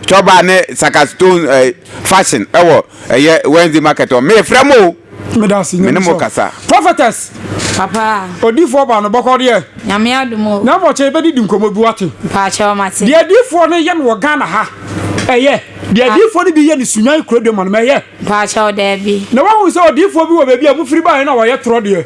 tɔ baa ne Saka Stone Fashion wɔ ɛyɛ Wednesday Market hɔ. Merefrɛ mo o! meda ase nyame so prophetess papa odifoɔ ba no bɔkɔ deɛ nyame adom o na mmɔkyɛ yɛbɛdi di nkɔmmɔ bi wate paakyɛ ɔmate deɛ adifoɔ no yɛ no wɔ ghana ha ɛyɛ deɛ adifoɔ no bi yɛ no sunyan kuro de ma no mɛyɛ paakyɛ ɔdaabi na wahu sɛ odifoɔ bi wɔ baabi a mofiri baeɛ no a wɔyɛ torɔ deɛ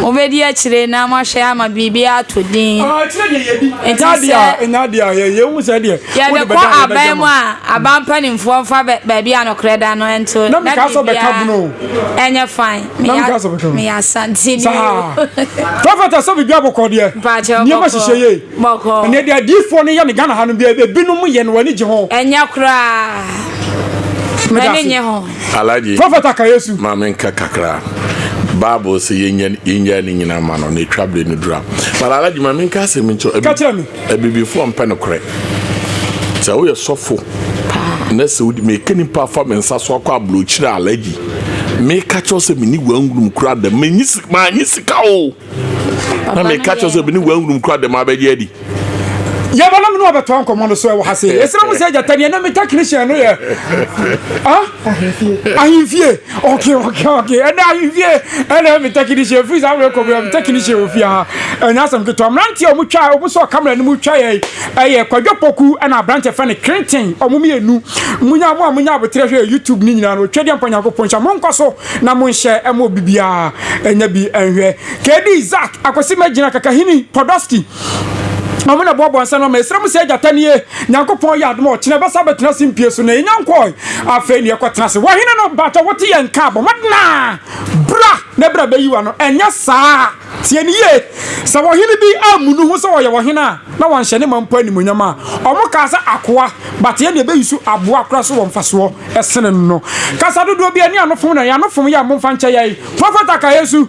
Mobɛdi akyire na moahwɛ ama biribiara atɔ din. Enti sɛ yɛbɛkɔ aban mu a, aban mpanimfoɔ mfa baabi a nokorɛ da no nto na biribiara nyɛ fine. Meyɛ Asante ni o. Mpakyɛ bɔkɔɔ. Ɛnyɛ koraa. M'ani nnye ho. Alhaji Prophet Akayesu. ma me nka kakra. Bible sɛ yɛnya yɛnya ne nyinaa ma no na ɛtwa berɛ no dura. But Alhaji ma me nka asɛm bi nkyerɛ Ka kyerɛ me. Abibifoɔ mpɛ nokorɛ. Sɛ woyɛ sɔfo na sɛ wodi meka nipa afa me nsa so akɔ aburokyire a Alhaji meka kyerɛ wo sɛ mene wangurum koraa da manyi si- manyi sika o. na meka kyerɛ sɛ mene woahunum kora dɛm abɛgye adi yɛbɛnam ne wɔbɛtoa nkɔmmɔ no so ɛwɔ ha se yɛsrɛ mo sɛ agyata neɛ na me technician no yɛ ahemfie okay okay okay ɛnɛ ahemfie ɛnɛ me technician firi saa mmerɛ kɔmmerɛ me technician wɔ fie ha ɛnyɛ asɛm ketewa mmeranteɛ a wɔtwa wɔn sɔ kamera no mu twa yɛ ɛyɛ kwadwo poku ɛna aberanteɛ fɛ ne krenten wɔn mmienu munya mo a munya aboterɛ hwɛ youtube ne nyinaa no twɛdeɛ mpa nyankopɔn nhyɛ monkɔ so na mo nhyɛ ɛma obi biara ɛnyɛ bi ɛnhwɛ KD Zak akwasi mɛgyina kakahini Podolski ɔmo na ɛboaboa nsa no ama ɛsrɛ mo sɛ gyata nie nyankopɔn yɛ adoma ɔkyena ɛbɛsa bɛtena se mpie so na ɛnya nkɔɔe afei ne ɛkɔ tena se wahene no baatwa wote yɛ nka abɔ mmɔdenaa bra ne bra bɛyi wa no ɛnyɛ saa Tie no yie, Sɛ ɔhene bi ammu ne ho sɛ ɔyɛ ɔhene a, na wanhyɛ ne man mpo animuonyam a, wɔkaa sɛ akoa, but yɛn deɛ bɛyi so aboa koraa so wɔ mfasoɔ sene no. Kasa dodoɔ biara nni anofom na yɛn anofom yɛ a momfa nkyɛ yɛn. Profeta ka yɛn su.